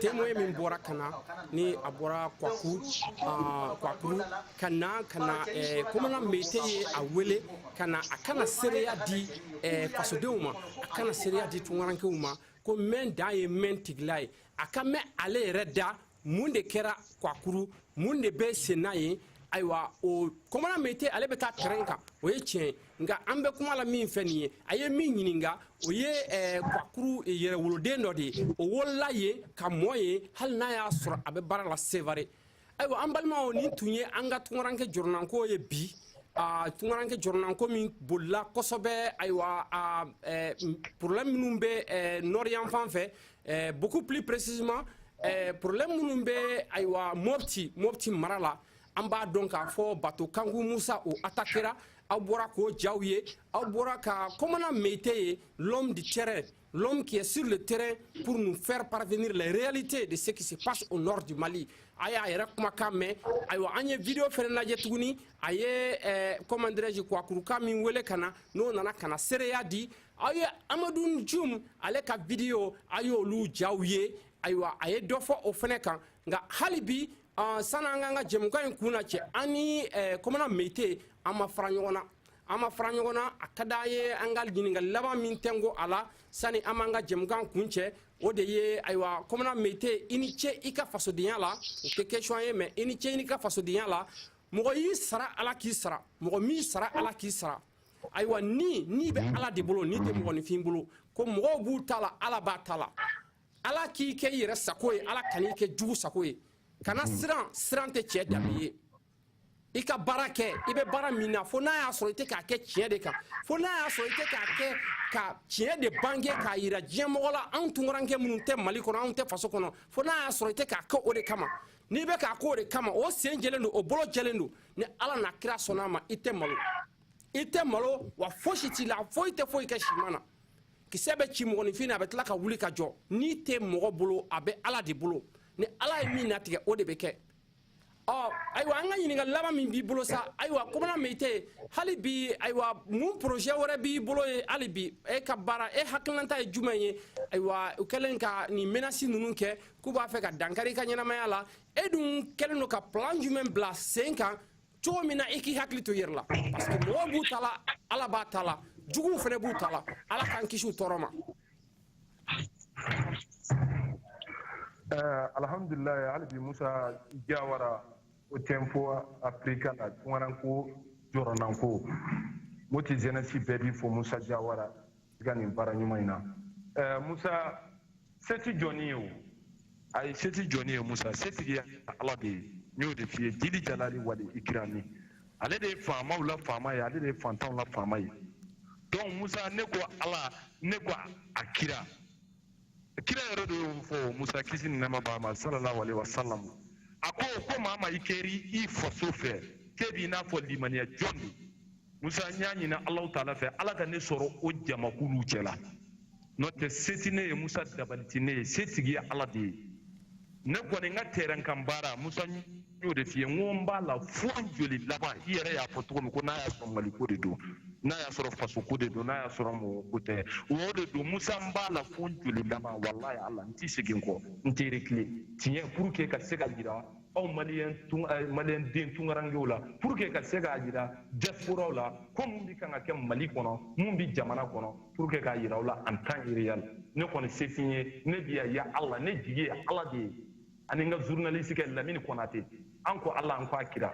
[SPEAKER 1] témoin min bɔra ka na ni a bɔra kwaku ah, kwakuru ka na ka na eh, komana meyite ye a wele ka na a ka na seereya di eh, fasodenw ma a ka na seereya di tungarankew ma ko mɛn dan ye mɛn tigi la ye an k'a mɛn ale yɛrɛ da mun de kɛra kwakuru mun de bɛ senna yen ayiwa o komana meyite ale bɛ taa terɛn kan o ye tiɲɛ ye nka an bɛ kuma la min fɛ nin ye a ye min ɲininka o ye eh, kwakuru yɛrɛwoloden dɔ de ye o wolola yen ka mɔ yen hali n'a y'a sɔrɔ a bɛ baara la sevare ayiwa an balimaw nin tun ye an ka tungaranke jɔrɔnanko ye bi ah, tungaranke jɔrɔnanko min bolila kosɛbɛ ayiwa ah, eh, problème minnu bɛ eh, nɔri yanfan fɛ eh, beaucoup plus précisément eh, problème minnu bɛ ayiwa mopti mopti mara la an b'a dɔn k'a fɔ bato kanku musa o atakera aw bɔra k'o jaw ye aw bɔra ka komana meyite ye l'homme du terrain l'homme qui est sur le terrain pour nous faire parvenir les réalités de ce qui se passe au nord du mali a y'a yɛrɛ kumakan mɛn ayiwa an ye video fɛnɛ lajɛ tuguni a ye eh, comment dirais-je kwakuruka min wele ka na n'o nana ka na seereya di aw ye amadu jum ale ka video aw y'olu jaw ye ayiwa a ye dɔ fɔ o fɛnɛ kan nka hali bi Ɔ sani an k'an ka jɛmukan in kuncɛ an kɔnɔna mte an ma fara ɲɔgɔn na an ma fara ɲɔgɔn na a ka di an ye an ka ɲininka laban min tɛ ko a la sani an b'an ka jɛmukan kuncɛ o de ye ayiwa kɔnɔna mte i ni ce i ka fasodenya la o tɛ question ye mais i ni ce i ka fasodenya la mɔgɔ y'i sara ala k'i sara mɔgɔ m'i sara ala k'i sara ayiwa ni ni bɛ ala de bolo ni tɛ mɔgɔninfin bolo ko mɔgɔw b'u ta la ala b'a ta la ala k'i kɛ i yɛrɛ sago ye ala kan'i kɛ jugu sago ye kana hmm. siran siran tɛ cɛ danbe ye i ka baara kɛ i bɛ baara min na fo n'a y'a sɔrɔ i tɛ k'a kɛ tiɲɛ de kan fo n'a y'a sɔrɔ i tɛ k'a kɛ ka tiɲɛ de bange k'a yira diɲɛ mɔgɔ la anw tunkaranke minnu tɛ mali kɔnɔ anw tɛ faso kɔnɔ fo n'a y'a sɔrɔ i tɛ k'a kɛ o de kama n'i bɛ k'a kɛ o de kama o sen jɛlen don o bolo jɛlen don ni ala n'a kira sɔnna a ma i tɛ malo i tɛ malo wa fosi t'i la foyi tɛ foyi kɛ siman na kisɛ bɛ ci mɔgɔninfin na a bɛ tila ka wuli ka jɔ ni tɛ mɔgɔ bolo a bɛ ala de bolo ni ala ye min natigɛ o de bɛ kɛ ɔ ayiwa an ka ɲininkali laban min b'i bolo sa ayiwa kɔmana min tɛ hali bi ayiwa mun projet wɛrɛ b'i bolo ye hali bi e ka baara e hakilinata ye jumɛn ye ayiwa u kɛlen ka nin menasi ninnu kɛ k'u b'a fɛ ka dankari i ka ɲɛnamaya la e dun kɛlen don ka plan jumɛn bila sen kan cogo min na i k'i hakili to i yɛrɛ la parce que mɔgɔw b'u ta la ala b'a ta la juguw fana b'u ta la ala k'an kisi u tɔɔrɔ ma eh, alhamdulilayi hali bi musa jawara o tempo afirika la tungaranko jɔrɔnanko moti jɛnɛsi bɛɛ b'i fo musa jawara i ka nin baara ɲuman in na ɛɛ musa se ti jɔni ye o ayi se ti jɔni ye musa setigi ala de ye n y'o de f'i ye jili jalali wali ikirami ale de ye faamaw la faama ye ale de ye fantanw la faama ye donc musa ne ko ala ne ko a kira kira yɛrɛ de y'o fɔ musa kisi ni nɛɛma b'a ma sallallahu alaihi wasallam a ko ko maa ma i kɛri i faso fɛ k'e b'i n'a fɔ limaniya jɔn don musa n y'a ɲini alahu taala fɛ ala ka ne sɔrɔ o jamakuluw cɛla n'o tɛ se ti ne ye musa dabali ti ne ye setigi ye ala de ye ne kɔni n ka terrain kan baara musa y'o de f'i ye n ko n b'a la fo joli laban i yɛrɛ y'a fɔ cogo min ko n'a y'a sɔrɔ maliko de don n'a y'a sɔrɔ fasoko de don n'a y'a sɔrɔ mɔgɔ ko tɛ o de don musa n b'a la fo joli laban walayi ala n ti segin kɔ n tɛ rekile tiɲɛ pour que ka se k'a jira aw maliyɛn tun eh, maliyɛn den tunkarankew la pour que ka se k'a jira diasporaw la ko mun bi kan ka kɛ mali kɔnɔ mun bi jamana kɔnɔ pour que k'a jira aw la en temps réel ne kɔni se t'i ye ne bi ya ya ala ne jigi ye ala de ye ani n ka journaliste kɛ lamini kɔnate an ko ala an ko a kira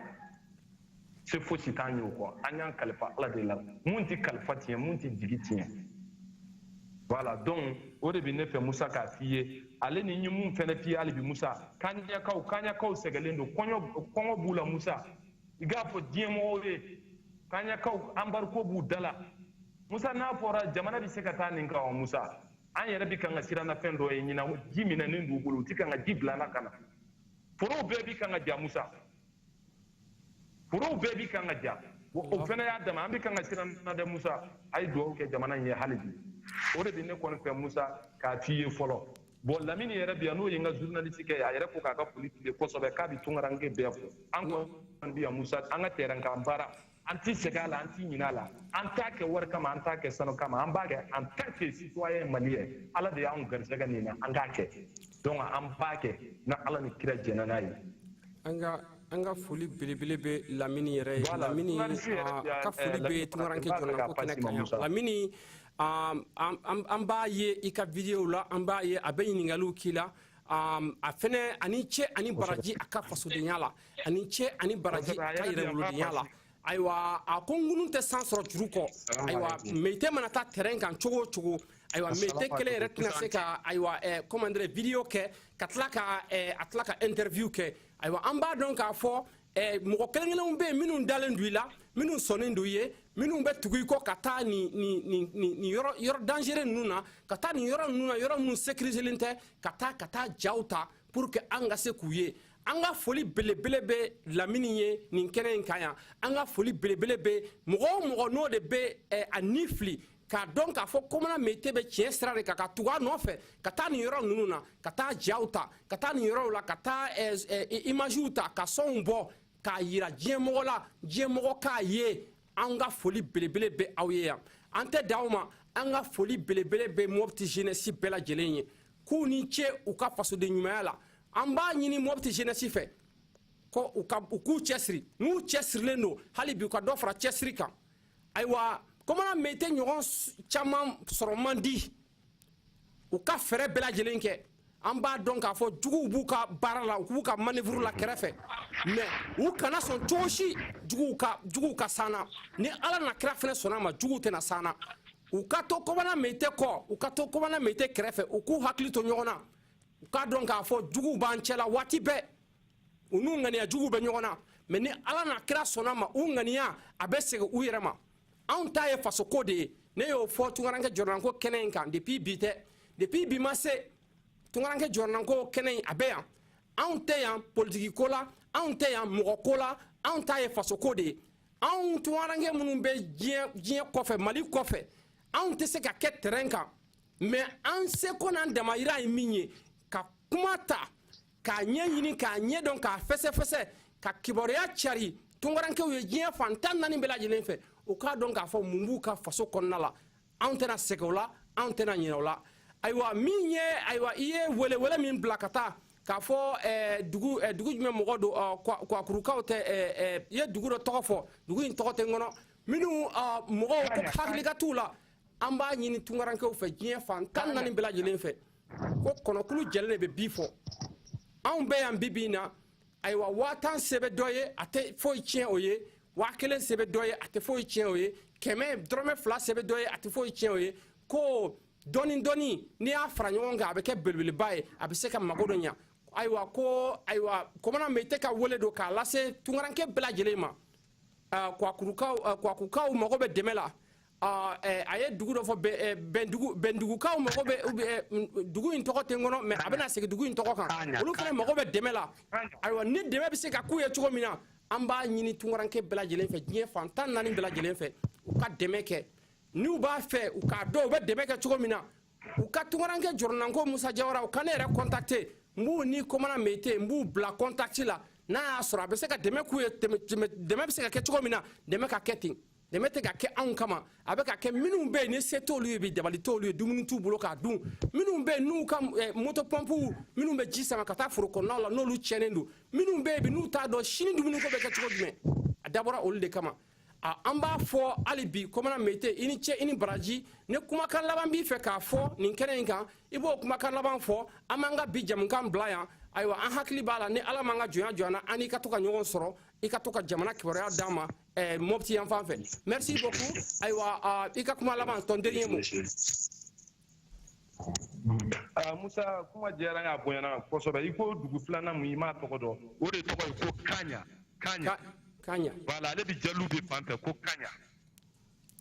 [SPEAKER 1] se fosi t'an ye o kɔ an y'an kalifa ala de la mun tɛ kalifa tiɲɛ mun tɛ jigi tiɲɛ voilà donc o de bɛ ne fɛ musa k'a f'i ye ale ni ye mun fɛnɛ f'i ye hali bi musa kaɲakaw kaɲakaw sɛgɛlen don kɔɲɔ kɔngɔ b'u la musa i k'a fɔ diɲɛ mɔgɔw ye kaɲakaw embargo b'u da la musa n'a fɔra jamana bɛ se ka taa nin kan wa musa an yɛrɛ bi kan ka siran na fɛn dɔ ye ɲinan ji minɛnen d'u bolo u ti kan ka ji bila na ka na forow bɛɛ bi kan ka ja musa forow bɛɛ bi kan ka ja o fana y'a dama an bi kan ka siran na dɛ musa a ye dugawu kɛ jamana in ye hali bi o de bi ne kɔni fɛ musa k'a f'i ye fɔlɔ bon lamini yɛrɛ bi yan n'o ye n ka journaliste kɛ a yɛrɛ ko k'a ka foli tile kosɛbɛ k'a bi tungaranke bɛɛ fo an kɔni bi yan musa an ka terrain kan baara an tɛ segin a la an tɛ ɲinɛ a la an t'a kɛ wari kama an t'a kɛ sanu kama an b'a kɛ en tant que citoyen malien ala de y'anw garisɛgɛ nin na an k'a kɛ donc an b'a kɛ ni ala ni kira jɛnna n'a ye an ka an ka foli belebele bɛ lamini yɛrɛ ye lamini ka foli bɛ tunkaranke jɔnako kɛnɛ kan yan lamini an b'a ye i ka videow la an b'a ye a bɛ ɲininkaliw k'i la a fɛnɛ a ni ce a ni baraji a ka fasodenya la a ni ce a ni baraji a ka yɛrɛwolodenya la ayiwa a ko ŋunun tɛ san sɔrɔ juru kɔ ayiwa meyite mana taa terrain kan cogo o cogo ayiwa meyite kelen yɛrɛ tɛna se ka ayiwa comment dire video kɛ ka tila ka a tila ka interview kɛ ayiwa an b'a dɔn k'a fɔ Eh, mɔgɔ kelen kelenw bɛ yen minnu dalen don i la minnu sɔnnen don i ye minnu bɛ tugu i kɔ ka taa nin nin nin nin nin yɔrɔ yɔrɔ dangereux ninnu na ka taa nin yɔrɔ ninnu na yɔrɔ minnu sécuriselen tɛ ka taa ka taa jaw ta pour que an ka se k'u ye an ka foli belebele bɛ lamini ye nin kɛnɛ in kan yan an ka foli belebele bɛ mɔgɔ o mɔgɔ n'o de bɛ eh, a ni fili k'a dɔn k'a fɔ kɔmana meyite bɛ tiɲɛ sira de kan ka tugu a nɔfɛ ka taa nin yɔrɔ ninnu na ka taa jaw ta ka taa nin yɔrɔw la ka taa eh, eh, imagew ta ka sɔnw bɔ k'a yira diɲɛmɔgɔ la diɲɛmɔgɔ k'a ye an ka foli belebele bɛ aw ye yan an tɛ da aw ma an ka foli belebele bɛ mopti jeunesse bɛɛ lajɛlen ye k'u ni ce u ka fasoden ɲumanya la an b'a ɲini mopti jeunesse fɛ ko u k'u cɛsiri n'u cɛsirilen don hali bi u ka dɔ fara cɛsiri kan ayiwa kɔmana meyite ɲɔgɔn caman sɔrɔ man di u ka fɛɛrɛ bɛɛ lajɛlen kɛ an b'a dɔn k'a fɔ juguw b'u ka baara la u b'u ka manœuvre la kɛrɛfɛ mais u kana sɔn cogo si juguw ka juguw ka s'an na ni ala n'a kira fɛnɛ sɔnn'a ma juguw tɛna s'an na u ka to komana meyite kɔ u ka to komana meyite kɛrɛfɛ u k'u hakili to ɲɔgɔn na u k'a dɔn k'a fɔ juguw b'an cɛla waati bɛɛ u n'u ŋaniya jugu bɛ ɲɔgɔn na mɛ ni ala n'a kira sɔnn'a ma u ŋaniya a bɛ segin u yɛrɛ ma anw ta ye fasoko de ye ne y'o fɔ tungaranke jɔrɔnanko kɛnɛ in kan depuis bi tɛ depuis bi ma se tungaranke jɔrɔnanko kɛnɛ in a bɛ yan anw tɛ yan politikiko la anw tɛ yan mɔgɔ ko la anw ta ye fasoko de ye anw tungaranke minnu bɛ diɲɛ kɔfɛ mali kɔfɛ anw tɛ se ka kɛ tɛrɛn kan mɛ an seko n'an damayira ye min ye ka kuma ta k'a ɲɛɲini k'a ɲɛdɔn k'a fɛsɛfɛsɛ ka kibaruya cari tungarankew ye diɲɛ fan tan naani bɛɛ lajɛlen fɛ u k'a dɔn k'a fɔ mun b'u ka faso kɔnɔna la anw tɛna sɛgɛn o la anw tɛna ɲinɛ o la ayiwa min ye ayiwa i ye welewele min bila ka taa k'a fɔ eh, dugu eh, dugu jumɛn mɔgɔ don ah, kwakurukaw tɛ eh, i ye dugu dɔ tɔgɔ fɔ dugu in tɔgɔ tɛ n kɔnɔ minnu ah, mɔgɔw ko hakili ka t'u la an b'a ɲini tungarankew fɛ diɲɛ fan tan naani bɛɛ lajɛlen fɛ ko kɔnɔkulu jɛlen de bɛ bi fɔ anw bɛ yan bi bi in na ayiwa waa tan se bɛ dɔ ye a tɛ foyi tiɲɛ o ye waa kelen se bɛ dɔ ye a tɛ foyi tiɲɛ o ye kɛmɛ dɔrɔmɛ fila se bɛ dɔ ye a tɛ foyi tiɲɛ o ye ko dɔɔni dɔɔni n'i y'a fara ɲɔgɔn kan a bɛ kɛ belebeleba ye a bɛ se ka mago dɔ ɲa ayiwa ko ayiwa komana mete ka wele don k'a lase tungaranke bɛɛ lajɛlen ma kwakukaw mago bɛ dɛmɛ la a ye dugu dɔ fɔ bɛndugukaw mago bɛ dugu in tɔgɔ tɛ n kɔnɔ mɛ a bɛna segin dugu in tɔgɔ kan olu fana mago bɛ dɛmɛ la ayiwa ni dɛmɛ bɛ se ka k'u ye cogo min na an b'a ɲini tungaranke bɛɛ lajɛlen fɛ diɲɛ fan tan naani bɛɛ lajɛlen fɛ u ka dɛmɛ kɛ n'u b'a fɛ u k'a dɔn u bɛ dɛmɛ kɛ cogo min na u ka tungaranke jɔrɔnanko musa jawara u ka ne yɛrɛ kɔntakte n b'u ni komana meyite n b'u bila kɔntakti la n'a y'a sɔrɔ a bɛ se ka dɛmɛ k'u ye dɛmɛ bɛ se ka kɛ cogo min na dɛmɛ ka kɛ ten dɛmɛ tɛ ka kɛ anw kama a bɛ ka kɛ minnu bɛ yen ni se t'olu ye bi dabali t'olu ye dumuni t'u bolo k'a dun minnu bɛ yen n'u ka eh, moto pɔnpuw minnu bɛ ji sama ka taa foro kɔnɔnaw la n'olu tiɲɛnen don minnu bɛ yen bi n'u t'a dɔn sini dumuniko bɛ kɛ cogo jumɛn a dabɔra olu de kama a an b'a fɔ hali bi komana mete i ni cɛ i ni baraji ni kumakan laban b'i fɛ k'a fɔ nin kɛnɛ in kan i b'o kumakan laban fɔ an b'an ka bi jɛmukan bila yan ayiwa an hakili b'a la ni ala m'an ka jɔnya jɔ an na an ka to ka ɲɔgɔn sɔrɔ i ka to ka jamana kibaruya d'an ma eh, mɔpti yan fan fɛ merci beaucoup ayiwa uh, i ka kuma laban ton dernier mot Ah, musa kuma diyara y'a bonyana kosɛbɛ i ko dugu filanan mun i m'a tɔgɔ dɔn o de tɔgɔ ye ko kanya kanya kanya voilà ale bi jalube fan fɛ ko kanya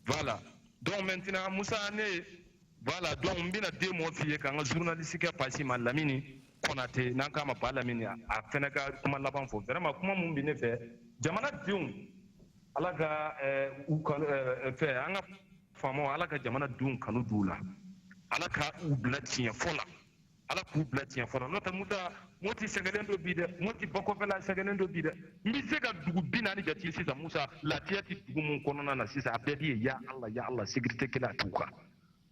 [SPEAKER 1] voilà donc maintenant musa ne voilà donc n bɛna deux mots f'i ye k'an ka journaliste kɛ pase malamini kɔnate n'an k'a ma balamini a fɛnɛ ka kuma laban fɔ vraiment kuma mun bi ne fɛ jamana denw ala ka eh, u eh, fɛ an ka faamaw ala ka jamana denw kanu d'u la ala ka u bila tiɲɛfɔ la ala k'u bila tiɲɛfɔ la n'o tɛ musa moti sɛgɛnlen don bi dɛ moti bakɔfɛla sɛgɛnlen don bi dɛ n bɛ se ka dugu bi naani jate sisan musa lafiya tɛ dugu min kɔnɔna na sisan a bɛɛ bɛ yen ya ala ya ala sécurité kelen a t'u kan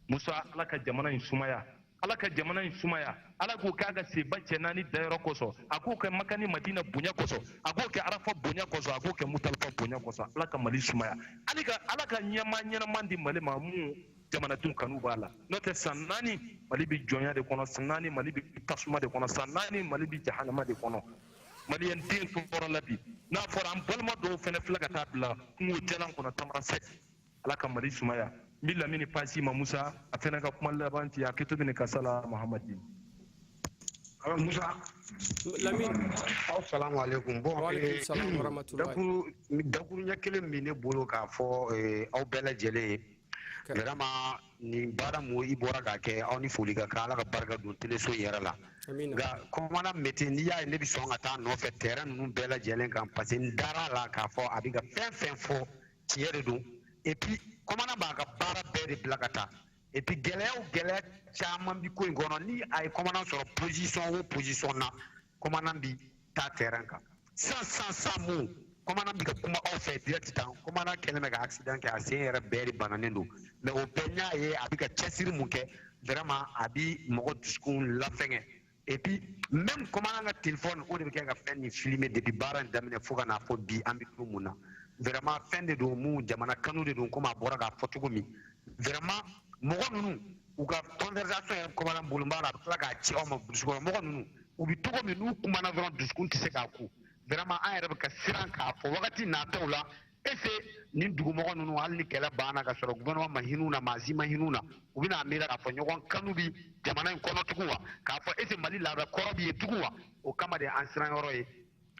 [SPEAKER 1] musa ala ka jamana in sumaya ala ka jamana in sumaya ala k'o kɛ a ka seba cɛ naani dayɔrɔ kosɔn a k'o kɛ maka ni madina bonya kosɔn a k'o kɛ arafa bonya kosɔn a k'o kɛ muzdalifa bonya kosɔn ala ka mali sumaya ala ka ala ka ɲɛmaa ɲɛnama di mali ma mun jamanadenw kanu b'a la n'o tɛ san naani mali bɛ jɔnya de kɔnɔ san naani mali bɛ tasuma de kɔnɔ san naani mali bɛ jahanama de kɔnɔ maliyɛn den tɔɔrɔla bi n'a fɔra an balima dɔw fana filɛ ka taa bila kungo jalan kɔnɔ tamarasɛti ala ka mali sumaya n bɛ lamini passer i ma musa a fana ka kuma laban ti hakɛto bɛ nin kan sala mahamadi musa lamini asalamu aleykum bon eh, dakuruɲɛ kelen min ne bolo k'a fɔ eh, aw bɛɛ lajɛlen ye vraiment nin baara mun i bɔra k'a kɛ aw ni foli ka kan ala ka barika don teleso yɛrɛ la nka commandant mete n'i y'a ye ne bɛ sɔn ka taa a nɔfɛ terrain ninnu bɛɛ lajɛlen kan parce que n dara la k'a fɔ a bɛ ka fɛn o fɛn fɔ tiɲɛ de don et puis commandant b'a ka baara bɛɛ de bila ka taa et puis gɛlɛya o gɛlɛya caman bi ko in kɔnɔ ni a ye commandant sɔrɔ position o position na commandant bi taa terrain kan san san san mun commandant bi ka kuma aw fɛ direct tan commandant kɛlen bɛ ka accident kɛ a sen yɛrɛ bɛɛ de bananen don mais o bɛɛ n y'a ye a bi ka cɛsiri mun kɛ vraiment a bi mɔgɔ dusukun lafiɲɛ et puis même commandant ka telefɔni o de bɛ kɛ ka fɛn nin filmer depuis baara in daminɛ fo ka n'a fɔ bi an bɛ don mun na vraiment fɛn de don mun jamana kanu de don komi a bɔra k'a fɔ cogo min vraiment mɔgɔ ninnu u ka conversation yɛrɛ commandant bolo b'a la a bɛ tila k'a ci aw ma burusi kɔnɔ mɔgɔ ninnu u bɛ cogo min n'u kumana dɔrɔn dusukun tɛ se k'a kun vraiment an yɛrɛ bɛ ka siran k'a fɔ wagati nataw la est-ce nin dugumɔgɔ ninnu hali ni kɛlɛ banna ka sɔrɔ gouvernement ma hin'u na maa si ma hin'u na u bɛna miira k'a fɔ ɲɔgɔn kanu bi jamana in kɔnɔ tugun wa k'a fɔ est-ce mali laada kɔrɔ bi yen tugun wa o kama de an siran yɔrɔ ye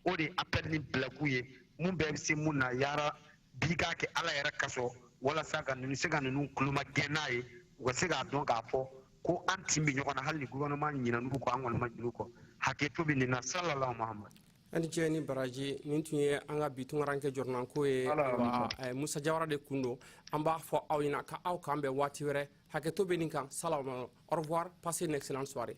[SPEAKER 1] o de appel nin bilakun ye mun bɛɛ bɛ se mun na yarabi k'a kɛ ala yɛrɛ kosɔn walasa ka ninnu se ka ninnu kulo magɛn n'a ye u ka se k'a dɔn k'a fɔ ko an tin bɛ ɲɔgɔn na hali ni gouvernement ɲinan'u kɔ an kɔni ma ɲin'u kɔ hakɛto bɛ nin na salalahu mahamadu aw ni ce ni baraji nin tun ye an ka bi tunkarankɛ jɔrɔnanko ye ayiwa eh, musa jawara de kun don an b'a fɔ aw ɲɛna ka aw k'an bɛn waati wɛrɛ hakɛto bɛ nin kan salawuma au revoir passez une excellente soirée